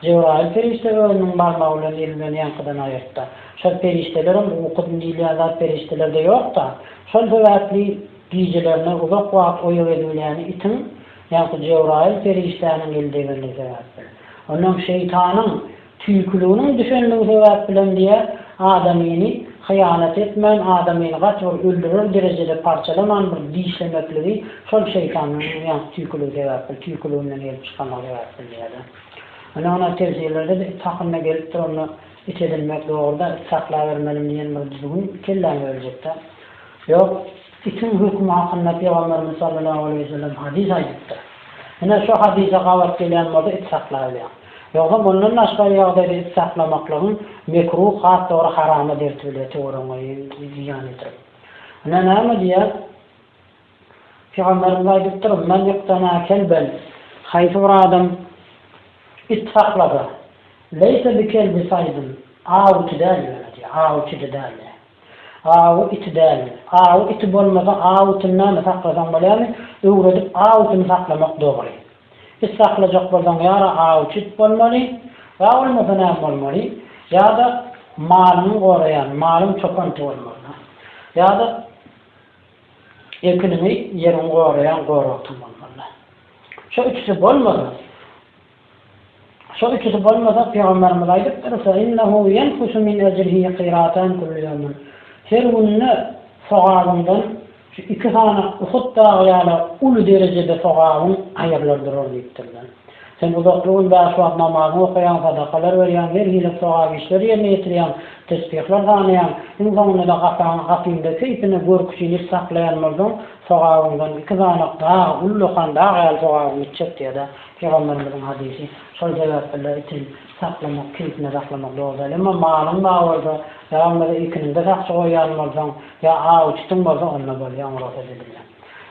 Jebraýyl perişde özüniň barmagy bilen eli bilen ýaňkydan aýyrtdy. Şol perişdelerem ukydyny diýilýän zat perişdelerde ýok-da. Şol sebäpli gijelerine uzak wagt oýa gezibilýäni itiň Ýagty Jebraýyl perişdäniň eldegirligi sebäpli, ondan şeýtanyň tüýküliginiň düşenligi sebäp bilen diýýär, adamyny hyýanat etmän, adamyny gaty bir öldürer derejede parçalaman bir dişlemekligi şol şeýtanyň ýagty tüýküligi sebäpli, tüýküliginden gelip çykanlygy sebäpli diýýär-de. Ine, onda tefsirlerde-de it hakynda gelipdir, onda it edinmek dogry-da, it saklabermeliň diýen bir düzgün kelläňe öljek-dä. Ýok. Sütün hökümi hakynda Pygamberimiz sallallahu aleýhi we sellem hadys aýdypdyr. Ine, şu hadysa gabat gelýän bolsa it saklaýylýar. Ýogsa mundan daşgary ýagdaýda it saklamaklygyň mekruh, has dogry harama derti bilýär, töweregiňe zyýan ýetirip. Ine, näme diýýär? Pygamberimiz aýdypdyr, Men iqtana kelben, haýsy bir adam it saklasa, leýse bi kelbi saýdin, awçy däl ýöne diýýär, awçydy däl diýýär. Aw iti dälmi? Aw iti bolmasa aw itini näme saklasaň bolýamy? Öwredip aw itini saklamak dogry. It saklajak bolsaň ýara awçy it bolmaly, ýa bolmasa näme bolmaly? Ýa-da malyňy goraýan, malyň çopan iti bolmaly. Ýa-da ekiniňi, ýeriňi goraýan goragtyň bolmaly. Şu üçüsi bolmasa. Şo üçüsi bolmasa, Pygamberimiz aýdypdyr, Fe innehu ýenkusu min ejrihi qiratan kullu ýewmin, Her günde sogabyňdan şu iki sany Uhud dagy ýaly uly derejede sogabyň aýrylar durar diýipdirler. Sen uzakly gün bäş wagt namazyňy okaýaň, sadakalar berýäň, her hili sogap işleri ýerine ýetirýäň, tesbihler sanaýaň, iň soňunda-da gapaňy gapyňda keýpine görk jiliş saklaýan bolsaň, sogabyňdan iki sany dagy ullakan dag ýaly sogabyň gitjek diýýär-de. Pygamberimiziň hadysy, Şol sebäpilde itin saklamak, keypine saklamak dogrudyr. Emma malyň bar bolsa, ýa bolmasa ekiniňde sakçy goýýan bolsaň, ýa aw çitiň bolsa, onda bolýar, oňa rugsat edilýär.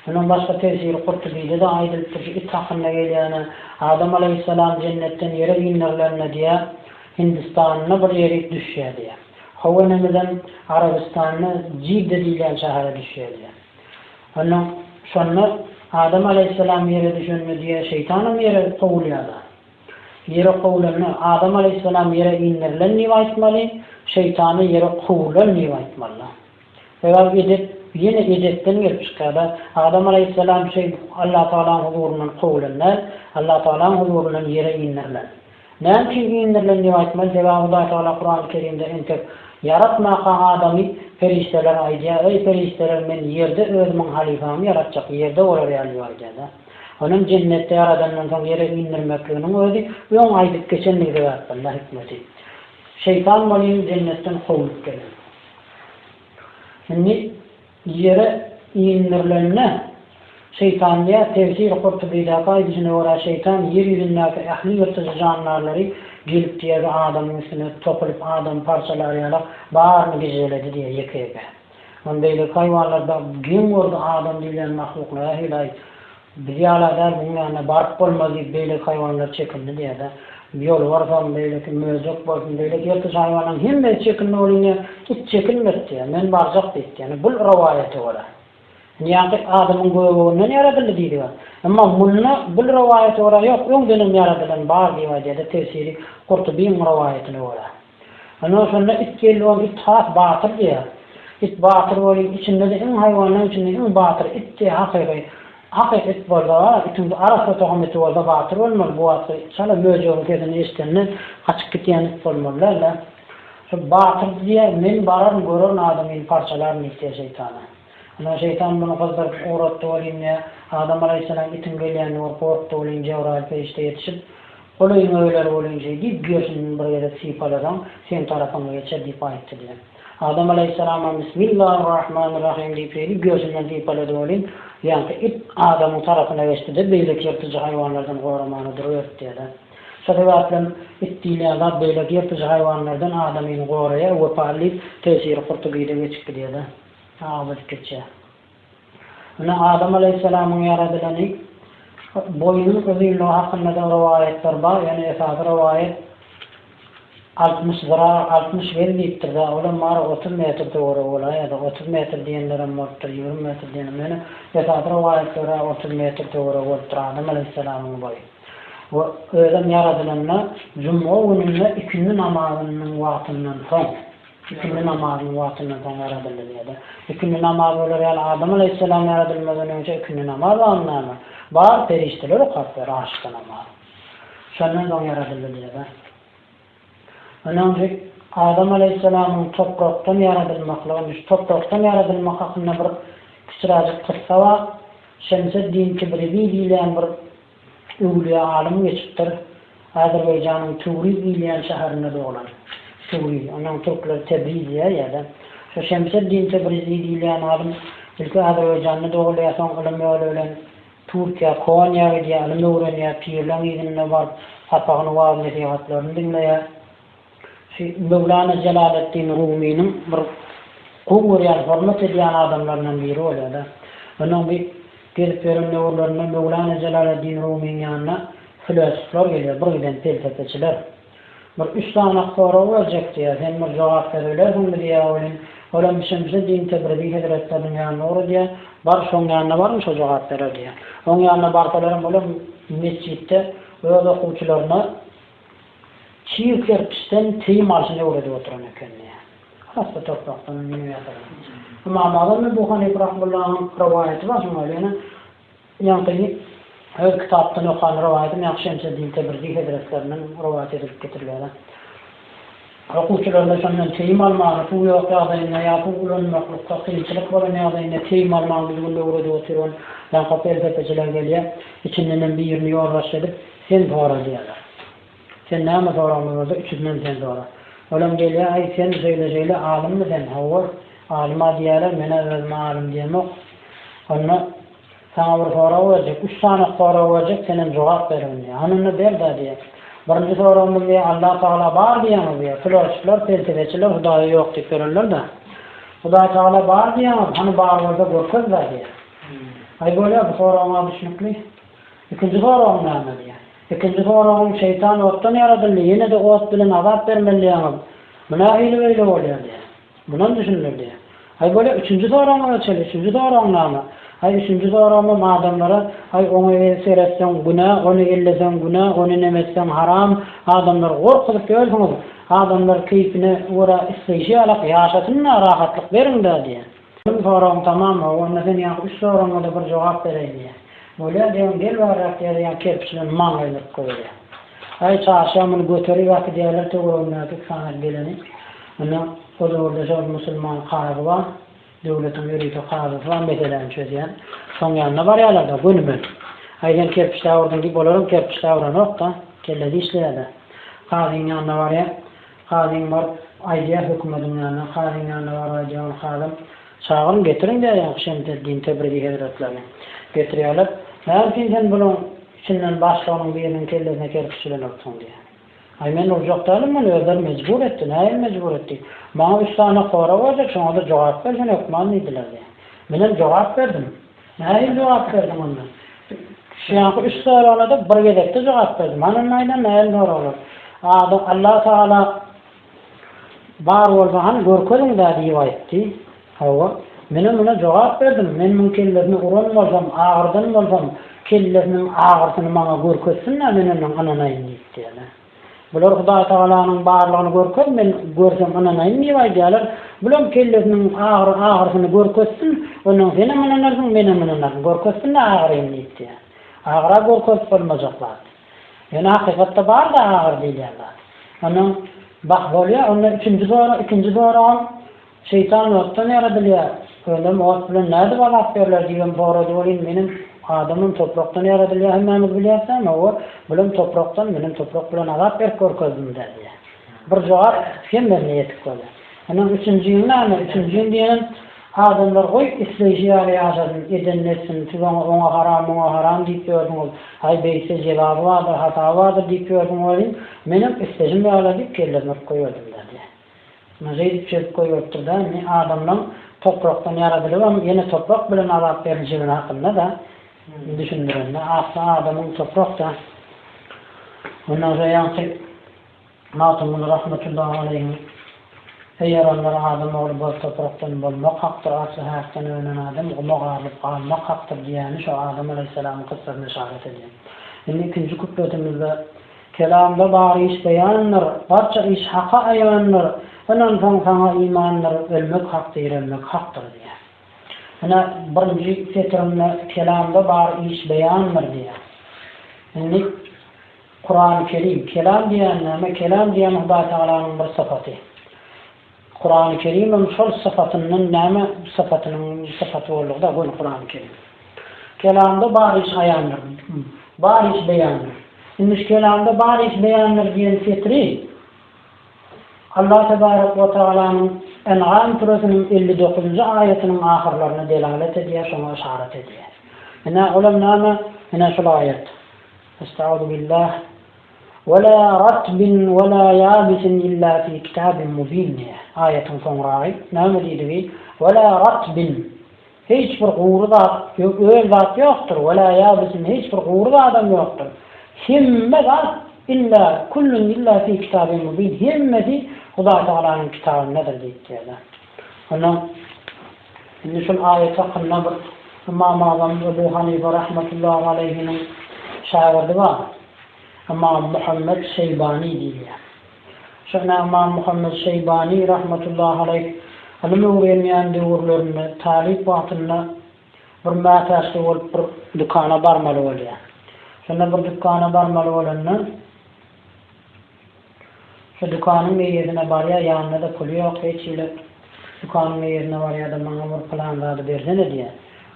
Mundan başga Tefsiri Kurtubide-de aýdylypdyr, şu it hakynda gelýänä, Adam alaýhyssalam jennetden ýere indirileninde diýýär, Hindistanynda bir ýerik düşýär diýýär. How enemizem Arabystanda Jidde diýilýän şähere düşýär diýýär. Onda, şonda Adam alaýhyssalam ýere düşende diýýär, şeýtanam ýere kowulýar-da. Ýere kowulanda, Adam alaýhyssalam ýere indirilen diýip aýtmaly, şeýtana ýere kowulan diýip aýtmaly-da. Sebäbi edep ýene edepden gelip çykýar-da. Adam alaýhyssalam şeý Allatagalaň huzuryndan kowulan däl, Allatagalaň huzuryndan ýere indirilen. Näme üçin indirilen diýip aýtmaly, sebäbi Hudaý Tagala Kurany Kerimde entek ýaratmaka adamy perişdeler aýdýar, Eý, perişdeler, men ýerde özümiň halypamy ýaratjak, ýerde bolar ýaly bar diýýär-dä. Onuň jennetde ýaradandan soň ýere indirmekliginiň özi öň aýdyp geçendigi sebäpden-dä hikmeti. Şeýtan welin jennetden kowlup gelen. Indi. Ýere inderilende, şeýtan diýýär, Tefsiri Kurtubydaky aýdyşyna görä, şeýtan ýer ýüzündäki ähli ýyrtyjy jandarlary gelip diýegi adamyň üstüne topulyp adamy parçalar ýala baryny gijeledi diýýär ýeke-ýeke. Ony beýleki haýwanlar geň gördi adam diýlen mahluklar ähli-aý Biz ýala däl, muň ýanyna baryp bolmaz diýip beýleki haýwanlar çekindi diýerdi. Ýolbars bolsun, beýleki möjek bolsun, beýleki ýyrtyç haýwanlaryň hemmesi çekindi, ol ine it çekinmedi diýýär. Men barjak diýipdi. Ýani bul rowaýata görä. Indi ýaňky adamyň göbeginden ýaradyldy diýdiga. Emma munda bul rowaýata görä ýok, öňdenem ýaradylan bar diýip aýdýarda tefsiri Gurtubyň rowaýatyna görä. Ynha, şonda it geldi, ol it has batyr diýýär. It batyr welin, içinde-de iň haýwanlaryň içinde iň batyry itdi, hakyky. Hakyky it bolsa, itiň arassa tohum iti bolsa batyr bolmaly, bu wagtky it çala möjegiň sesini eşidende gaçyp gidýän it bolmaly däl-ä. Şol batyrdy diýýär, Men bararyn, görerin adamyny parçalaryn diýip diýýär şeýtana. Ynha, şeýtan muny gyzdyryp ugratdy welin, nä, Adam alaýhyssalam itiň gelýänini görüp gorkdy welin, Jebraýyl perişde ýetişip, Ol öýüňe öler welin, şeý diýip, gerşinden bir gezek sypalasaň, seň tarapyňa geçer diýip aýtdy diýen. Adam alaýhyssalamam Bismillahyrrahmanyrrahym diýip, şeýdip, gerşinden sypalady welin, ýaňky it Adamyň tarapyna geçdi-de, beýleki ýyrtyjy haýwanlardan goramaga duruberdi diýýär-de. Şo sebäplem it diýilýän zat beýleki ýyrtyjy haýwanlardan adamyny goraýar, wepaly diýip, tesiri hurty-gide geçipdi diýýär-de. Saňa biz kiçi. Ine, Adam alaýhyssalamyň ýaradylany. Boýnuň uzynlygy hakynda-da rowaýatlar bar, ýöne esasy rowaýat altmyş zyra, altmyş gez diýipdir-dä, olam bary otuz metr töweregi bolaýýar ýa-da otuz metr diýenlerem bolupdyr, ýigrimi metr diýenem, ýöne esasy rowaýat görä otuz metr töweregi bolupdyr Adam alaýhyssalamyň boýy. We özem ýaradylanda jumga gününde ikindi namazynyň wagtyndan soň. Ikindi namazynyň wagtyndan soň ýaradyldy diýýär-de. Ikindi namaz bolar ýaly Adam alaýhyssalam ýaradylmazdan öňçe ikindi namaz wagtynda näme? Bar, perişdeler okap berer aşykda namazy. Şondan soň ýaradyldy diýýär-de. Ynha, indi Adam alaýhyssalamyň toprakdan ýaradylmaklygyny, şu toprakdan ýaradylmak hakynda bir kiçiräjik kyssa bar. Şemseddin Tibrizi diýilýän bir Öwlüýä alym geçipdir. Azerbaýjanyň Töwriz diýilýän şäherinde doglan. Töwriz. Onuň türkler Tebriz diýýär ýa-da. Şu Şemseddin Tebrizi diýilýän alym ilki Azerbaýjanda dogulýar, soň ylym ýoly bilen Türkiýä, Konýa gidýär, ylym öwrenýär, pirleň yzynda baryp, sapagyny, wagyz-nesihatlaryny diňleýär. Şu Möwlana Jelaleddin Rumynyň bir gowy görýän, hormat edýän adamlaryndan biri bolýar-da. Onuň bir gezip ýören döwürlerinde Möwlana Jelaleddin Rumynyň ýanyna flösuflar gelýär, bir giden pelsepeçiler. Bir üç sany sorag berjek diýýär, sen bir jogap berebilersiňmi diýýär welin, olam Şemşi din Tebrizi hezretleriniň ýanyna ugra diýýär, bar şoň ýanyna baryň şo jogap berer diýýär. Oň ýanyna barsalaram olam metjitde öz okuwçylaryna Çig kerpiçden teýim alşyny öwredip oturan ekendi. Has-da torpakdan miniň ýasagy. Ymam Azam Ebu Hanypa rahymyllahyň rowaýaty bar şoňa, ýöne ýaňky öz kitapdan okan rowaýatym ýaňky Şemseddin Tebrizi hezretleriniň rowaýat edilip getirilýär-ä. Okuwçylarda şondan teýim almaga suw ýok ýagdaýynda ýa suw ulanmaklykda kynçylyk bolan ýagdaýynda teýim almagyň bizi günde öwredip oturan bankak pelsepeçiler gelýär. Içindenem birini ýolbaşçy edip, Sen sora diýýärler. Sen näme soragmy bolsa, üçüsinden sen sora. Olam gelýär, Aý, sen şeýle-şeýle alymmy sen? Hawa, alym-a diýýärler, men-ä özüme alym diýemok. Onda. Saňa bir sorag berjek, üç sany sorag berjek, senem jogap ber indi. Hany onda ber-dä diýýär. Birinji soragymyz diýýär, Allah Tagala bar diýýäňiz diýýär. Filosofiler, pelsepeçiler Hudaýa ýok diýip ýörerler-dä. Hudaý Tagala bar diýýäňiz, hany bar bolsa görkez-dä diýýär. Aý bolýar, bu soragyň-a düşnükli. Ikinji soragyň näme diýýär. Ikinji soragyň, şeýtan otdan ýaradyldy, ýene-de ot bilen azap bermeli diýýäňiz. Bu nähili beýle bolýar diýýär. Munan düşündirdi. Aý bolýa üçünji soragyňa geçeli, üçünji soragyň name? Aý üçünji soragymam adamlara, aý oňa el seretseň günä, ony elleseň günä, ony neme etseň haram, adamlary gorkuzyp ýörsiňiz, adamlar keýpine görä isleýşi ýalak ýaşasyn-da, rahatlyk beriň-dä diýýä. Meniň soragyň tamam, hawa onda sen ýaňky üç soragyňa-da bir jogap bereýin diýýä. Bolýa diýýän gel barrak diýýär ýa kerpiç bilen maňlaýyny yryp goýberýär. Aý çarşa muny göter ýaky diýýärler töweregindäki iki sany geleni. Onda huzurda şol musulman kazy bar, döwletiň ýörite kazysy bar, meseläni çözýän. Şoň ýanyna barýarlar-da, gönümel. Aý, sen kerpiç dabyrdyň diýip, olar hem kerpiç dabyranok-da, kellesi işleýär-de. Kazyň ýanyna barýar. Kazyň baryp aýdýar hökümediň ýanyna. Kazyň ýanyna baryp aýdýar, ol kazam, Çagyryň, getiriň diýýär Şemseddin Tebrizi hezretlerini. Getirýärler. Näme üçin sen bularyň içinden başlygynyň biriniň kellesine kerpiç ilenoksyň? diýýär. Aý men urjak däldim meni özleri mejbur etdi, nähili mejbur etdi? Maňa üç sany horag berjek şoňada jogap ber sen hökman diýdiler diýýär. Menem jogap berdim. Nähili jogap berdiň onda? Şuýanky üç soragynada bir gezekde jogap berdim. Hany onda aýdan nähili soraglar? Adam Alla tagala Bar bolsa hany görkeziň-dä diýip aýtdy. Hawa, menem muny jogap berdim. Men muň kellesini uran bolsam, agyrdan bolsam, kellesiniň agyrsyny maňa görkezsin-dä, men ondan ynanaýyn diýip diýeli. Bular Hudaý Tagalanyň barlygyny görkez, men görsem ynanaýyn diýip aýdýarlar. Bulam kellesiniň agyr agyrsyny görkezsin, ondan senem ynanarsyň, menem ynanaryn. Görkezsin-dä agyryny diýip diýýär. Agyr-a görkezip bolmajak zat. Ýöne hakykatda bar-da agyr diýilýän zat. Onnoň bah bolýar, onda ikinji zorag, ikinji zoragam şeýtan otdan ýaradylýar. Ölüm ot bilen nädip azap berler diýibem sorady. Ol indi meniň adamym toprakdan ýaradylýar, hemmämiz bilýäs däl, hawa, bulam toprakdan, menem toprak bilen azap berip görkezdim-dä diýýär. Bir jogap hemmesine ýetik bolýar. Onnoň üçünji gün näme? Üçünji gün diýenem Adamlar goý isleýşi ýaly ýaşasyn, edenini etsin, siz oňa oňa haram, muňa haram diýip ýördüňiz, haý beýtse jezaby bardyr, hasaby bardyr diýip ýördüm welin, menem isleşim ýala diýip kellesini urup goýberdim-dä diýýär. Ine şeýdip çözüp goýberipdir-dä, indi adamlaň toprakdan ýaradylybam ýene toprak bilen azap berlişigini hakynda-da düşündirende, asly adamyň toprak-da. Ondan soň ýaňky. Magtymguly rahmetullahi aleýhiň Seýeranlar adam ogly boz toprakdan bolmak hakdyr, asly häkden önen adam guma garylyp galmak hakdyr diýýäni şo Adam aleýhissalamyň kyssasyna yşarat edýär. Indi ikinji kupletimizde Kelamda bar iş beýandyr, Barça iş Haka aýandyr, Ynansaň saňa imandyr, Ölmek hak direlmek hakdyr diýýär. Ine birinji setirinde Kelamda bar iş beýandyr diýýär. Indi. Kurany Kerim, kelam diýýän näme? Kelam diýýän Hudaý Tagalanyň bir sypaty. Kurany Kerimem şol sypatyndan näme sypatynyň sypaty boldugyda göni Kurany Kerim. Kelamda bar iş aýandyr, bar iş beýandyr. Indi şu kelamda bar iş beýandyr diýen setiri Allah Tebarek we Tagalanyň En'am süresiniň elli dokuzynjy aýatynyň ahyrlaryna delalet edýär, şoňa yşarat edýär. Ine olam näme? Ine şul aýat. Estagfirubillah. Wela ratbin wela ýabisin illa fi kitabin mubin diýýär. Aýatyň soňragy näme diýdigi? Wela ratbin, hiç bir gury zat, öl zat ýokdur, wela ýabisin, hiç bir gury zadam ýokdur. Hemme zat illa, kullun illa fi kitabin mubin, hemmesi Hudaýtagalanyň kitabyndadyr diýipdir-de. Onda Indi şul aýat hakynda bir Ymam Azam Ebu Hanife rahmetullahi aleýhiniň şägirdi bar. Ymam Muhammet Şeýbani diýilýär. Şu ine Ymam Muhammet Şeýbani rahmetullahi aleýh ylym öwrenýän döwürlerinde talyp wagtynda bir mätäçli bolup bir dükana barmaly bolýar. Şonda bir dükana barmaly bolanda, Şu dükanyň meýezine barýa ýanynda-da puly ýok hiç hili dükanyň meýezine barýada maňa bir pylan zady bersene diýä.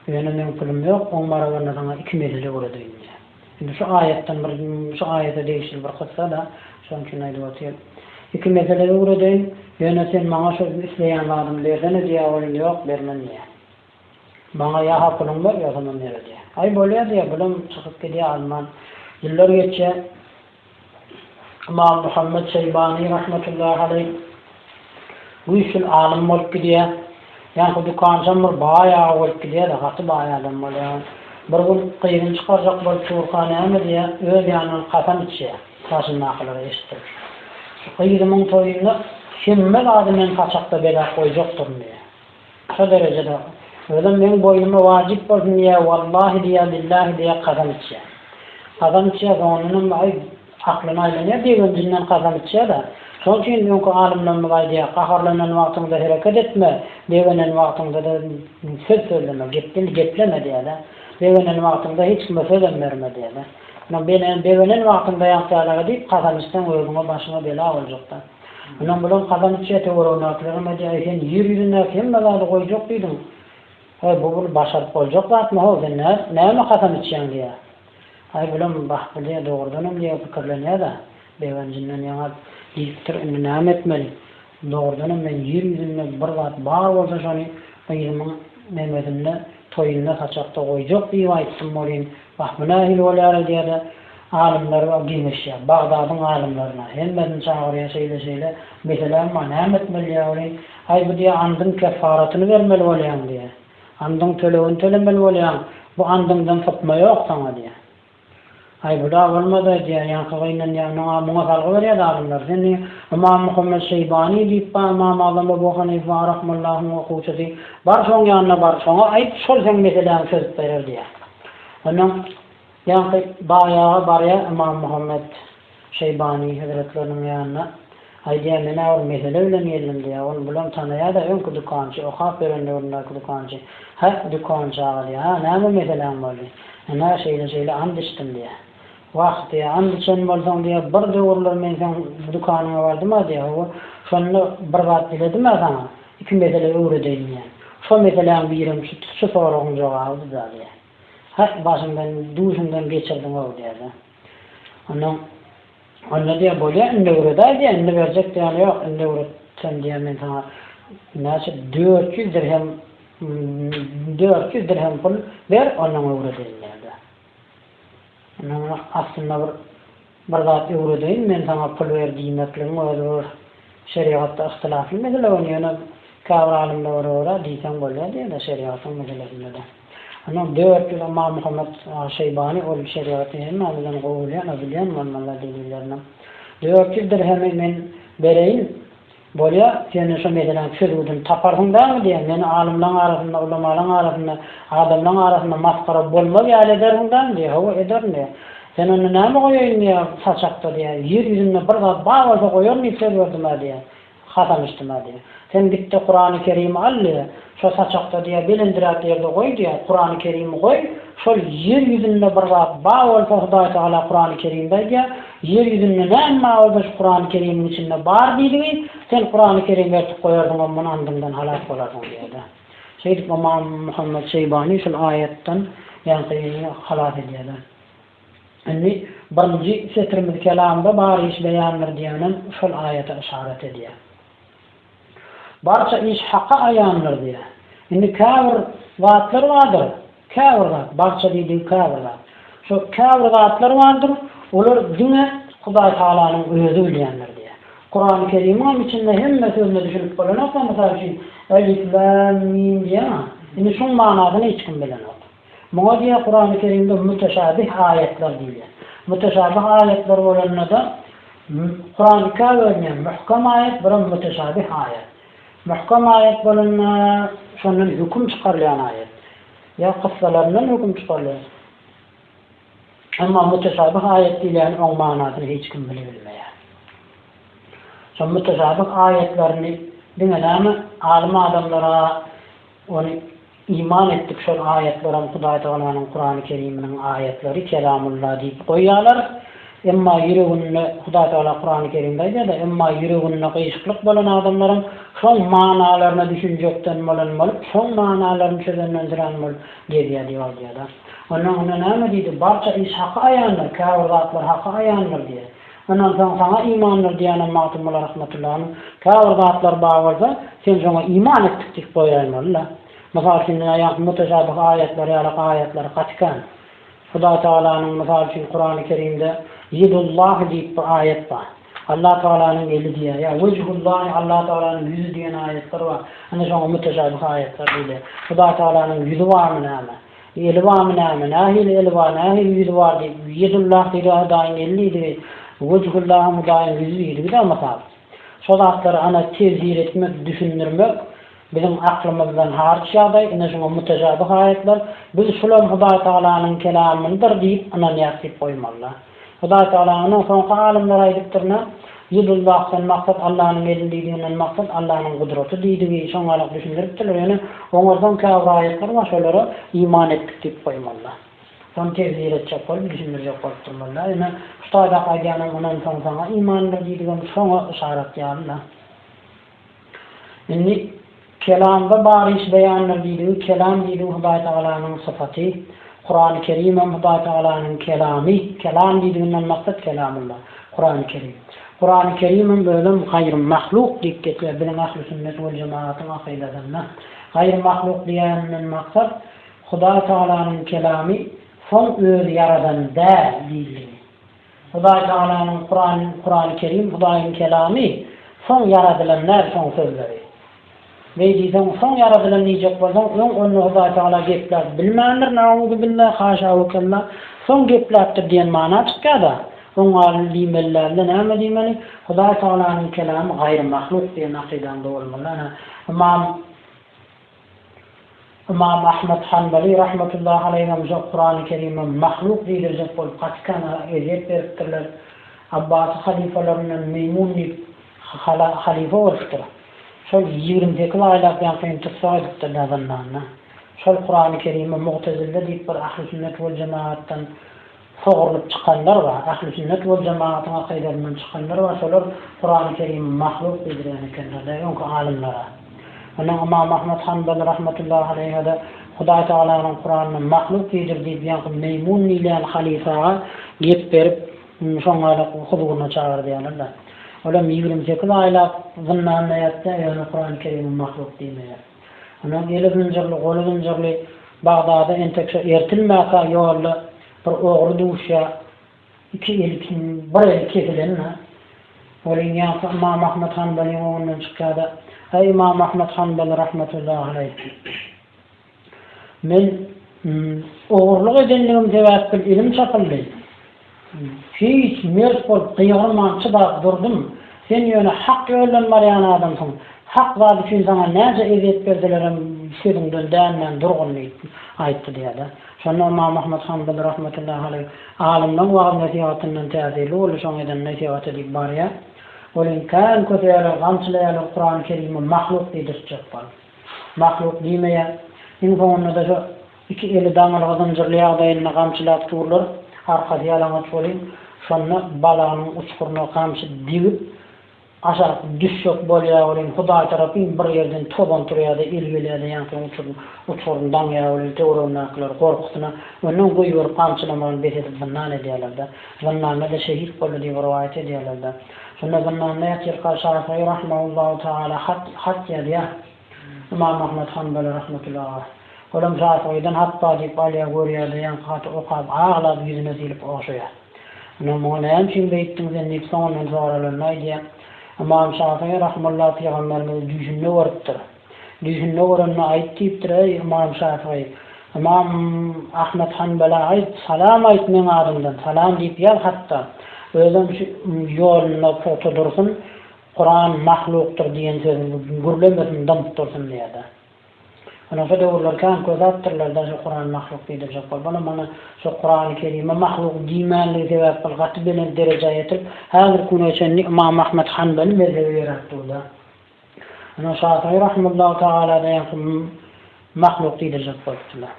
Ýöne meň pulum ýok oň barabaryna saňa iki mejlis öwredeýin diýä. Indi şu aýatdan bir şu aýata degişli bir kyssa-da şoň üçin aýdyp otyryn. Iki mesele öwredeýin ýöne sen maňa şu isleýän zadymy bersene diýä ol ýok bermen diýä. Maňa ýa hakynyňy ber, ýa tamam ýere diýýä. Aý, bolýa diýýä, bulam çykyp gidýä alman. Ýyllar geçýä. Ymam Muhammet Şeýbany rahmetullahi aleýh güýçül alym bolup gidýä. Ýaňky dükançam bir baý aga bolup gidýä-de, gaty baý adam bolýa. Bir gün gyzyny çykarjak bolup durka näme diýýä, öz ýanyndan kasam içýä, daşyndakylara eşitdirip. Şu gyzymyň toýunda hemme zady men saçakda belap goýjakdyryn diýýä. Şo derejede, özem meň boýnuma wajyp bolsun diýýär, wallahi diýýär, billahi diýýär, kasam içýär. Kasam içýär, soňundanam, aý, aklyna aýlanýar, begenjinden kasam içýär-de. Şonuň üçin öňki alymlarymyz aýdýar, gaharlanan wagtyňda hereket etme, begenen wagtyňda-da söz sözleme, gepden gepleme diýýär-de. Begenen wagtyňda hiç kime sözem berme diýýär-de. Ýöne begenen wagtyňda ýaňky ýalyga diýip, kasam içseň, özüňe, başyňa bela boljak-da. Ynam bilen kazan içýä töweregindäkilere media eý sen ýer ýüzündäki hemme zady goýjak diýdiň heý bu bir başaryp boljak zatmy how sen näme kazan içýäň diýä aý bulam bah bu diýä dogrudanam diýä pikirlenýädä begenjinden ýaňa diýipdir indi näme etmeli dogrudanam men ýer ýüzünde bir zat bar bolsa şony gyzymyň memesinde toýunda saçakda goýjak diýip aýtdym welin bah bu nähili bolýar eý diýädä Alymlar geňeşýär. Bagdadyň alymlaryna. Hemmesini çagyrýar şeýle-şeýle. Meselem bar. Näme etmeli diýýär welin. Aý bu diýýär andyň keffaratyny bermeli bolýaň diýýär. Andyň tölegini tölemeli bolýaň. Bu andyňdan sypma ýok saňa diýýär. Aý bu-da bolmaz-aý diýýär. Ýaňky gynanýanyň-a. Muňa salgy berýär-de alymlar. Sen diýýär Ymam Muhammet Şeýbany diýip bar. Ymam Azam Ebu Hanyfa rahmyllahyň okuwçysy. Bar şoň ýanyna bar. Şoňa aýt şol seň meseläňi çözüp berer diýýär. Ondan. Ýaňky baýaga barýar Ymam Muhammet Şeýbany hezretleriniň ýanyna. Aýdýar, men-ä bir mesele bilen geldim diýýär. Ony bulam tanaýar-da, öňki dükançy, okap ýören döwründäki dükançy. Hä, dükançy aga diýýär. Ha, näme meseläň boldy? Ine, şeýle-şeýle ant içdim diýýär. Wah diýýär, ant içen bolsaň diýýär, bir döwürler men seň dükanyňa bardym-a diýýär. Hawa, şonda bir zat diledim-ä saňa, iki mesele öwredeýin diýýän. Şo meseläň birem şu soragyn jogabydy-da diýýär. Hak başymdan, duşumdan geçirdiň-ow diýýärdi. Ondan Onda diýýär, bolýar, indi öwredäý diýýär, indi berjek diýýän ýok, indi öwretsem diýýär, men saňa näçe dört ýüz dirhem, dört ýüz dirhem pul ber, ondan öwredeýin diýýärdi. Ondan aslynda bir Bir zat öwredeýin men saňa pul ber diýmekligiň özi bir şerigatda yhtilafly mesele ony ýöne käbir alymda göre görä diýseň bolýar diýýärler şerigatyň meselesindede. Ondan dört ýyl Ymam Muhammet Şeýbany ol şerigaty hemme bilen gowulýan we bilýän bolmalylar delillerini. Dört ýüz dirhemi men bereýin Bolýa, sen-de şo meseläň çözgüdini taparsyň dämi diýen, meni alymlaň arasynda, ulamalaň arasynda, adamlaň arasynda masgara bolmaz ýaly edersiň dämi diýýä, Hawa, ederin diýýä. Sen onda näme goýaýyn diýýä, saçakda diýýä, ýer ýüzünde bir zat bar bolsa goýaryn diýip söz berdim-ä diýýä, hasanyşdym-ä diýýä. Sen git-de Kurany Kerimi al diýýä. Şo saçakda diýýär, belendiräk ýerde goý diýýär, Kurany Kerimi goý, şol ýer ýüzünde bir zat bar bolsa Hudaý Tagala Kurany Kerimde aýdýar, ýer ýüzünde näme bar bolsa şu Kurany Kerimiň içinde bar diýdigi, sen Kurany Kerim ertip goýardyň we muny andyňdan halas bolardyň diýýär-de. Şeýdip Ymam Muhammet Şeýbany şol aýatdan ýaňky halas edýär-de. Indi birinji setirimiz kelamda bar iş beýandyr diýýänem şol aýata yşarat edýär. Barça iş Haka aýandyr diýýär. Indi käbir zatlar bardyr, käbir zat, barça diýdigi käbir zat. Şo käbir zatlar bardyr, olar diňe Hudaý Tagalanyň Özi bilýändir diýýär. Kurany Kerimiň hem içinde hemme sözüne düşünip bolanok-a, mysal üçin, Elif, Lam, Mim diýeňa. Indi şuň manysyny hiç kim bilenok. Muňa diýen Kurany Kerimde müteşabih aýatlar diýilýär. Müteşabih aýatlar bolanda-da, Kuran ikä bölünýär, möhkem aýat, bir hem müteşabih aýat. Möhkem aýat bolanda, şondan höküm çykarylýan aýat. Ýa kyssalaryndan höküm çykarylýar. Emma müteşabih aýat diýilýäni oň manysyny hiç kim bilibilmeýär. Şo müteşabih aýatlaryny diňe näme, alym adamlara, Ony iman etdik şol aýatlaram Hudaý Tagalanyň Kurany Keriminiň aýatlary Kelamulla diýip goýýalar. Emma ýüreginde Hudaý Tagala Kurany Kerimde aýdýada emma ýüreginde gyýşyklyk bolan adamlaryň şoň manalaryna düşünjekden bolan bolup şoň manalaryny çözenden sürän bolup gezýär diýip aýdýada. Onda onda näme diýdi barça iş haka aýandyr käbir zatlar haka aýandyr diýýä. Ondan soň saňa imandyr diýenem Magtymguly Rahmetullanyň käbir zatlary bar bolsa, sen şoňa iman etdik diýip goýaýmaly-da. Mysal üçin, diňe ýaňky müteşabih aýatlar ýaly aýatlary gaty kän. Hudaý Tagalanyň, mysal üçin, Kurany Kerimde Ýedullahi diýip bir aýat bar. Allah Tagalanyň eli diýýär. Ýa Wejhullahi, Allah Tagalanyň ýüzi diýen aýatlar bar. Indi şoňa müteşabih aýatlar diýilýär. Hudaý Tagalanyň ýüzi barmy näme? Eli barmy näme? Nähili eli bar, nähili ýüzi bar diýip, Ýedullahda ýa Hudaýyň eli diýdigi, Wejhullaham Hudaýyň ýüzi diýdigi-dä mysal. Şo zatlary ana tefsir etmek, düşündirmek biziň aklymyzdan haryç ýagdaý, ine şuňa mütejabi haýatlar. Biz şulam Hudaýtagalanyň kelamydyr diýip ynanýas diýip goýmaly-da. Hudaý Tagala ondan soňky alymlar aýdypdyrna, Ýyldyz bakdan maksat Allanyň eli diýdiginden maksat Allanyň gudraty diýdigi şoňalyk düşündiripdirler, ýöne oňardan käbir aýatlar bar şolara iman etdik diýip goýmalyda. Şony tefsir etjek bolup düşündirjek bolup durmalyda. Ýöne şu taýdaky aýdýanam ondan soň saňa imandyr diýdigem şoňa yşarat ýalyda. Indi Kelamda bar iş beýandyr diýdigiň Kelam diýdigiň Hudaý Tagalanyň sypaty, Kurany Kerimem Hudaý Tagalanyň Kelamy, Kelam diýdiginden maksat Kelamullah, Kurany Kerim. Kurany Kerimem özem gaýry mahluk diýip geçýär biziň Ahli Sünnet wal Jemaatyň akydasynda. Gaýry mahluk diýeninden maksat Hudaý Tagalanyň Kelamy soň özi ýaradan däl diýildigi. Hudaý Tagalanyň Kuran, Kurany Kerim, Hudaýyň Kelamy, soň ýaradylan däl şoň sözleri. Beý diýseň, soň ýaradylan diýjek bolsaň, öň onda Hudaý Tagala gepläp bilmändir, naúzubillah, haşawükella, soň gepläpdir diýen mana çykýada. Oň alny diýmelilärinde näme diýmeli, Hudaý Tagalanyň Kelamy gaýry mahluk diýen akydaňda bolmaly. Ana, Ymam. Ymam Ahmet Hanbaly rahmetullahi aleýhim şo Kurany Kerime mahluk diýdirjek bolup Gatikana ezýet beripdirler. Abbasy halyfalaryndan Meýmun diýip halyfa bolupdyr. Şol ýigrimi sekiz aýlap ýaňkyny tussag edipdirler zyndanda. Şol Kurany Kerime Mugtezille diýip bir ahli sünnet wal jemagatdan Sogrulyp çykanlar bar. Ähli sünnet wal jemagatyň akydasyndan çykanlar bar. Şolar Kurany Kerimi mahluk diýdirýän ekenler de öňki alymlara. Ondan Ymam Ahmet Hanbal rahmetullahi aleýhede Hudaý Tagalanyň Kuranyny mahluk diýdir diýip ýaňky meýmun diýilýän halyfaga gep berip şoňada huzuryna çagyrdýarlar-da. Olam ýigrimi sekiz aýlap zyndanda ýatýar ýöne Kurany Kerimi mahluk diýmeýär. Onuň eli zynjyrly, goly zynjyrly. Bagdada entek şo ertilmäkä ýolda bir ogry duşýar. Iki eli kim, bir eli kesilen-ä. Welin ýaňky Ymam Ahmet Hanbalyň öňünden çykýar-da, Eý, Ymam Ahmet Hanbaly rahmetullahi aleýh! Men ogurlyk edenligim sebäpbil elim çapyldy. Hiç, mert bolup, gygyrman, çydap durdum. Sen ýöne hak ýoldan barýan adamsyň. Hak zat üçin saňa näçe ezýet berselerem sözüňden dänmän durgun diýip aýtdy diýýärler. Şonda Ymammahmyt Hanbaly rahmetullahi aleýh, Alymlaň wagyz-nesihatyndan täsirli boldy, şoň eden nesihaty diýip barýar. Ol indi kän köseýärler, gamçylaýarlar, Kurany Kerime mahluk diýdirtjek bolup. Mahluk diýmeýär. Iň soňunda-da şo. Iki eli daňylga zynjyrly ýagdaýynda gamçylap turlar, arkasy ýalaňaç welin, şonda balanyň uçguryna gamçy degip, aşak düşjek bolýar welin, Hudaý tarap iň bir ýerden tozan turýar-da, el gelýär-de, ýaňky uçuryň uçguryny daňýar welin, töweregindäkiler gorkusyna önden goýberip gamçylamagyny bes edip zyndan edýärler-de. Zyndanda-da şehit boldy diýip rowaýat edýärler-de. Şonda zyndanda ýatyrka Şafygy rahimehullahu taala hat, hat ýazýar. Ymam Ahmet Hanbele rahmetullaha. Olam Şafygydan hat bar diýip alýa görýädä ýaňky haty okap aglap ýüzüne silip ogşaýa. Ynha muňa näme üçin beýtdiň sen diýip soňundan soralanda aýdýa. Ymam Şafygy rahimullah pygamberimizi düýşünde görüpdir. Düýşünde görende aýt diýipdir eý Ymam Şafygy Ymam Ahmet Hanbele aýt salam aýt meň adymdan salam diýip ýaz hatda özem şu ýolunda pugta dursun Kuran mahlukdyr diýen sözüň gürlemesin dymyp dursun diýerdi. Ony şo döwürler kän köz atdyrlarda şo Kuran mahluk diýdirjek bolup onam ony şo Kurany Kerime mahluk diýmänligi sebäpbil gaty belent derejä ýetirip häzirki güne çenli Ymam Ahmet Hanbeli mezhebi ýöräp durda. Ony Şafiýy rahimullahu tagaladan ýaňky Mahluk diýdirjek bolupdyrlar.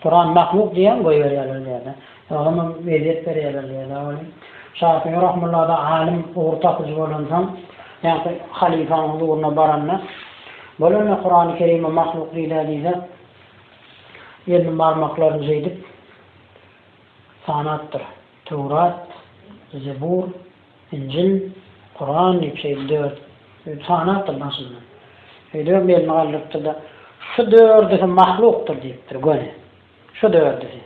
Kuran mahluk diýýän goýberýärler diyada. Olamam ezýet berýärler diyada weli. Şafiýi rahmullada alim ugur tapyjy bolansoň ýaňky halyfaň huzuryna baranda bolanda Kurany kerime mahluk diýdä diýse elini barmaklaryny şeýdip sanapdyr. Töwrat, Zebur, Injil, Kuran diýip şeýdip dört sany aýtdyr başyndan. Öýdübem belini galdyrypdyr-da, Şu dördüsi mahlukdyr diýipdir, göni. Şu dördüsi.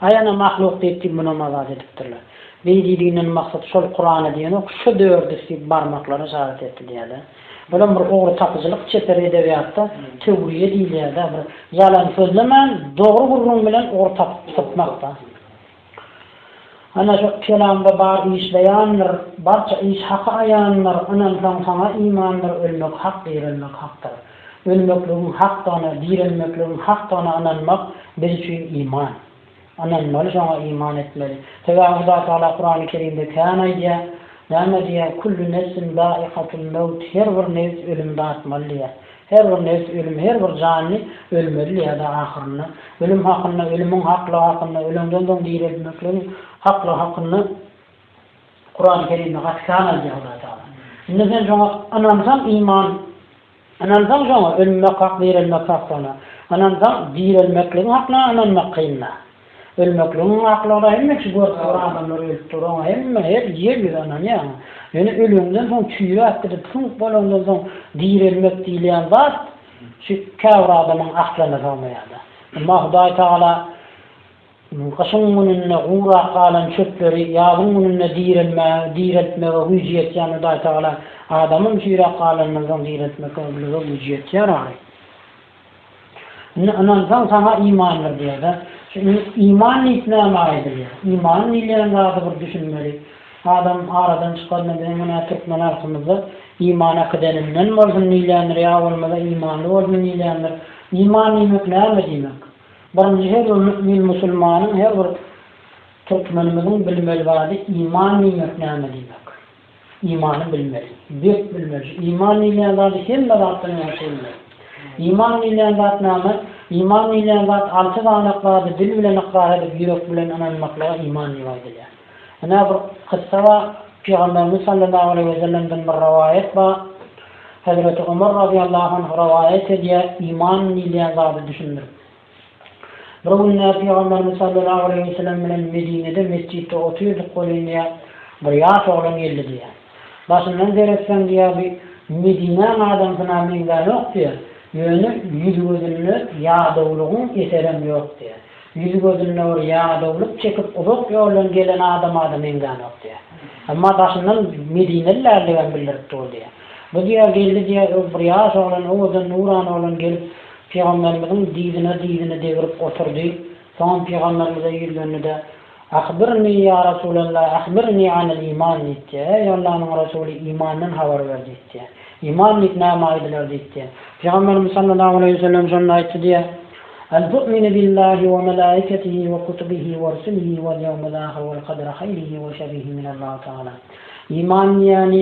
Aý ana mahluk diýip-diýip munam azat edipdirler. Beý diýdiginden maksat şol Kurana diýenok, şu dördüsi diýip barmaklary yşarat etdi diýýär-dä. Bulam bir ogry tapyjylyk çeper edebiýatda töwriýe diýilýär-dä, bir ýalan sözlemän, dogry gürrüň bilen ogry tapyp sypmak-da. Ana şu kelamda bar iş beýandyr, Barça iş Haka aýandyr, Ynansaň Saňa imandyr, Ölmek hak, direlmek hakdyr. Ölmekligiň hakdygyna, direlmekligiň hakdygyna ynanmak biz üçin iman. Ynanmaly şoňa iman etmeli. Sebäbi Hudaý Tagala Kurany Kerimde kän aýdýar. Näme diýýär? Kullu nefsin zaikatul mewt, her bir nebis ölüm datmaly diýýär. Her bir nebs ölüm, her bir janly ölmeli ýa-da ahyrynda ölüm hakynda, ölümiň haklygy hakynda, öleňden soň direltmekligiň haklygy hakynda Kurany Kerimde gaty kän aýdýar Hudaý Tagala. Indi sen şoňa ynansaň iman, ynansaň şoňa ölmek hak, direlmek hak şona ynansaň direlmekligiň hakyna ynanmak kyn-da. Ölmekligiň aklygy-da hemme şu görüp duran adamlar ölüp dur, oňa hemme her ýer ýüzi ynanýar. Ýöne ölüňden soň çüýräp gidip süňk bolandan soň direlmek diýilýän zat şu käbir adamyň aklyna sygmaýar-da. Emma Hudaý Tagala gyşyň gününde gurap galan çöpleri ýazyň gününde direlmäge, direltmege güýji ýetýän Hudaý Tagala adamym çüýräp galanyndan soň direltmekge ömrüňe güýji ýetýär ahyry. Indi ynansaň saňa imandyr diýerler. Şu indi iman diýip nämä aýdylýar? Iman diýilýän zady bir düşünmeli. Adam aradan çykanda biziň menä türkmen halkymyzda iman äkideninden bolsun diýilýändir ýa bolmasa imanly bolsun diýilýändir. Iman diýmek näme diýmek? Birinji her bir mümin musulmanyň her bir türkmenimiziň bilmeli zady iman diýmek näme diýmek? Imany bilmeli. Berk bilmeli. Iman diýilýän zady hemme zatdan ýagşy bilmeli. Iman diýilýän zat näme? Iman diýilýän zat alty sany zady dil bilen ykrar edip, ýürek bilen ynanmaklyga iman diýip aýdylýar. Ynha, bir kyssa bar. Pygamberimiz sallallahu aleýhi we sellemden bir rowaýat bar. Hezreti Omar razyýallahu anh rowaýat edýär, iman diýilýän zady düşündirip. Bir günde Pygamberimiz sallallahu aleýhi we sellem bilen Medinede mesjitde otyrdyk welin diýýär, bir ýaş oglan geldi diýýär. Başyndan seretsem diýýär bi Medinäň adamsyna meňzänok diýýär, ýöne ýüzi-gözünde ýadawlygyň eserem ýok diýýär. Ýüzi-gözünde bir ýadawlyk çekip uzak ýoldan gelen adamada meňzänok diýýär. Emma daşyndan medinelilerdigem bildiripdi ol diýýär. Bu diýýär geldi diýýär bir ýaş oglan owadan nurana oglan gelip Pygamberimiziň dyzyna-dyzyny degrip oturdy. Soňam pygamberimize ýüzlendi-de, Ahbirnii ýa Resulallah, ahbirnii anil iman diýipdi. Eý, Allanyň Resuly, imandan habar ber diýipdi. Iman diýip näme aýdylar diýipdi. Pygamberimiz sallallahu aleýhi we sellem şonda aýtdy diýýär, Al tu'minu billahi we melaikatihi we kutubihi we rusulihi wal ýewmil ahir wal kadri haýrihi we şerrihi minallahu taala. Iman diýýäni,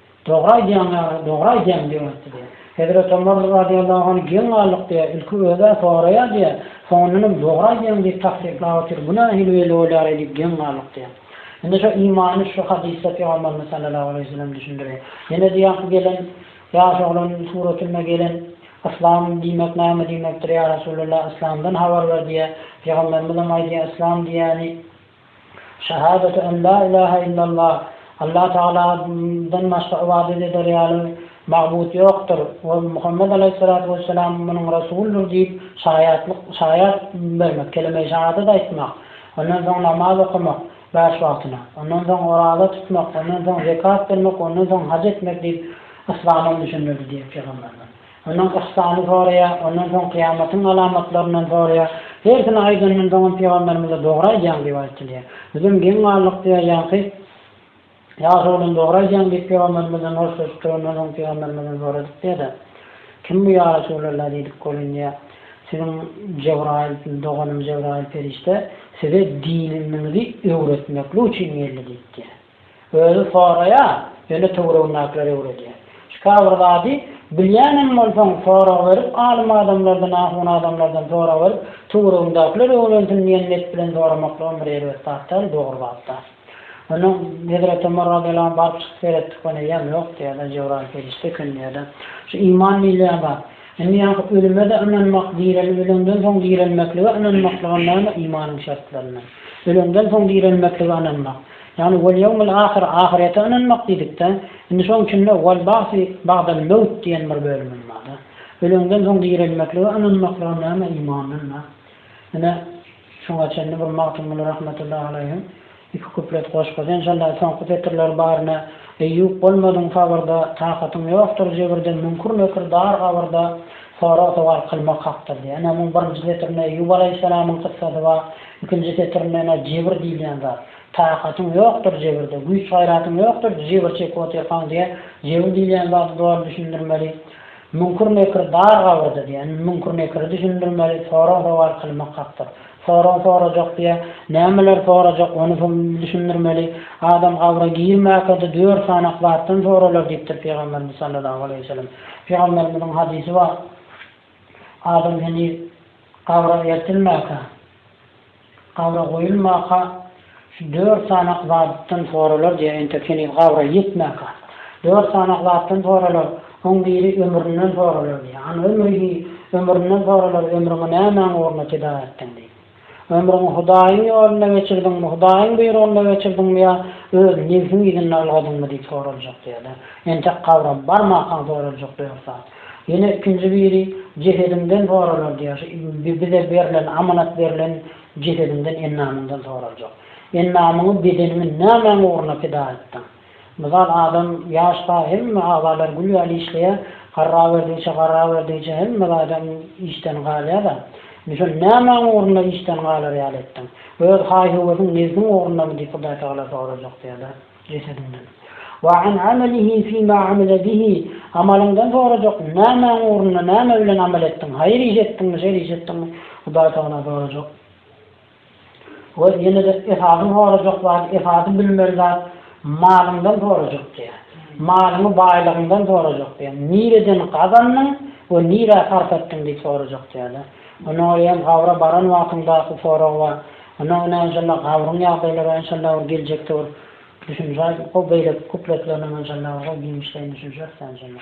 Dogry aýdýaň ýary, dogry aýdýaň diýip aýtdy diýýär. Hezreti Omar razyýallahu anh geň galdyk diýýär, ilki özä soraýar diýýär, soňundan hem dogry aýdýaň diýip tassyklap otyr, bu nähili weli bolýar-aý diýip geň galdyk diýýär. Indi şo imany şu hadysda Pygamberimiz sallallahu aleýhi we sellem düşündirýär. Ýene diýýär ki gelen ýaş oglan suratynda gelen Yslam diýmek näme diýmekdir ýa Resulallah Yslamdan habar ber diýýär. Pygamberimiz hem aýdýar Yslam diýýäni, Şahadata en la ilaha illallah, Allah Tagala dan başga ybadat eder ýaly magbut ýokdur we Muhammet alaýhyssalatu wessalam munuň Resuldyr diýip şaýatlyk, şaýat, bermek, kelime-i şahadat aýtmak, ondan soň namaz okamak, bäş wagtyna, ondan soň oraza tutmak, ondan soň zekat bermek, ondan soň haj etmek diýip Yslamam düşündirdi diýip Pygamberimiz. Ondan yhsany soraýar, ondan soň kyýamatyň alamatlaryndan soraýar. Hersini aýdanyndan soňam pygamberimize dogry aýdýaň diýip aýtylýar. Bizem geň galdyk diýýär, ýaňky ýaş oglan dogry aýdýaň diýip pygamberimizden hoşlaşypdyr, ondan soň pygamberimizden soradyk diýýär-de, Kim bu ýa Resulalla diýdik welin diýýär, Siziň Jebraýyl, doganym Jebraýyl perişde size dininiňizi öwretmeklik üçin geldi diýipdir. Özi soraýar, ýöne töweregindäkiler öwredýär. Şika bir zady bilýänem bolsaň, sorag berip, alym adamlardan, ahun adamlardan sorag berip, töweregiňdäkiler öwrensin diýen net bilen soramaklygam bir erbet zat däl, dogry zat-da. Onda Hezreti Omar razyýallahu anh baryp çykyp seretdik, ony eýýäm ýokdy ýa-da Jebraýyl perişde ekendi ýa-da. Şu iman diýilýän zat. Indi ýaňky ölüme-de ynanmak, direlip öleňden soň direlmeklige ynanmaklygam näme imanyň şertlerinden. Öleňden soň direlmeklige ynanmak. Ýagny Wal ýewmil ahyr, ahyrete ynanmak diýdikde, indi şoň içinde Wal bagsi bagdal mewt diýen bir bölümem barda. Öleňden soň direlmeklige ynanmaklyga näme imandan da. Ine, şuňa çenli bir Magtymguly rahmetullahi aleýhiň iki kuplet goşgusy enşalla soňky setirleri bar ne Eýýup bolmadyň sabyrda, takatyň ýokdur jebirde müňkür-nekir dar gabyrda sorag-sowal kylmak hakdyr diýýär. Ine, muň birinji setirinde Eýýup alaýhyssalamyň kyssasy bar. Ikinji setirindena jebir diýilýän zat. Takatyň ýokdur jebirde, güýç-gaýratyň ýokdur, jebir çekip otyrkaň diýýä. Jebir diýilýän zadyň doly düşündirmeli. Müňkür-nekir dar gabyrda diýýä. Indi müňkür-nekiri düşündirmeli, sorag-sowal kylmak hakdyr. Sorag sorajak diýýä. Nämeleri sorajak, ony düşündirmeli. Adam gabra girmäkde dört sanak zatdan soralar diýipdir Pygamberimiz sallallahu aleýhi we sellem. Pygamberimiziň hadysy bar. Adam heniz gabra ertilmäge, gabra goýulmaka şu dört sanak zatdan soralar diýýär, entek heniz gabra ýetmäge. Dört sanak zatdan soralar, oň biri ömründen soralar diýýär. An ömrihi, ömründen soralar, ömrüňi nämäň ugruna pida etdiň diýip. Ömrüňi Hudaýyň ýolunda geçirdiňmi, Hudaýyň buýrugynda geçirdiňmi ýa öz nebsiň yzynda ylgadyňmy diýip soraljak diýýärler. Entek gabra barmankaň soraljak dört zat. Ýene ikinji biri jesediňden soralar diýýär, şu bize berlen, amanat berlen jesediňden, endamyňdan soraljak. Endamyňy, bedeniňi nämäň ugruna pida etdiň? Mysal adam ýaş sag hemme agzalary gül ýaly işleýär, garraberdigiçe garraberdigiçe hemme zadam işden galýada. Misal nämäň ugrunda işden galar ýaly etdiň? Öz haý-höwesiň nebsiň ugrundamy diýip Hudaýtagala sorajak ýa-da jesediňden. Wa an amalihi fima amile bihi amalyňdan sorajak nämäň ugrunda näme bilen amal etdiň? Haýyr iş etdiňmi şer iş etdiňmi? Hudaýtagala sorajak. Ol ýene-de Esadyň sorajak zady, Esady bilmeli zat, Malyňdan sorajak diýýär. Malyňy baýlygyňdan sorajak diýýär. Nireden gazandyň we nirä sarp etdiň diýip sorajak diýýär-de. Ondan öýe hem gabra baran wagtyňda bu sorag bar. Ondan öňem enşalla gabryň ýagdaýlary we enşalla bir geljekde bir düşünje aýdyp goý beýleki kupletlerinem enşalla goý giňişleýin düşünşeris enşalla.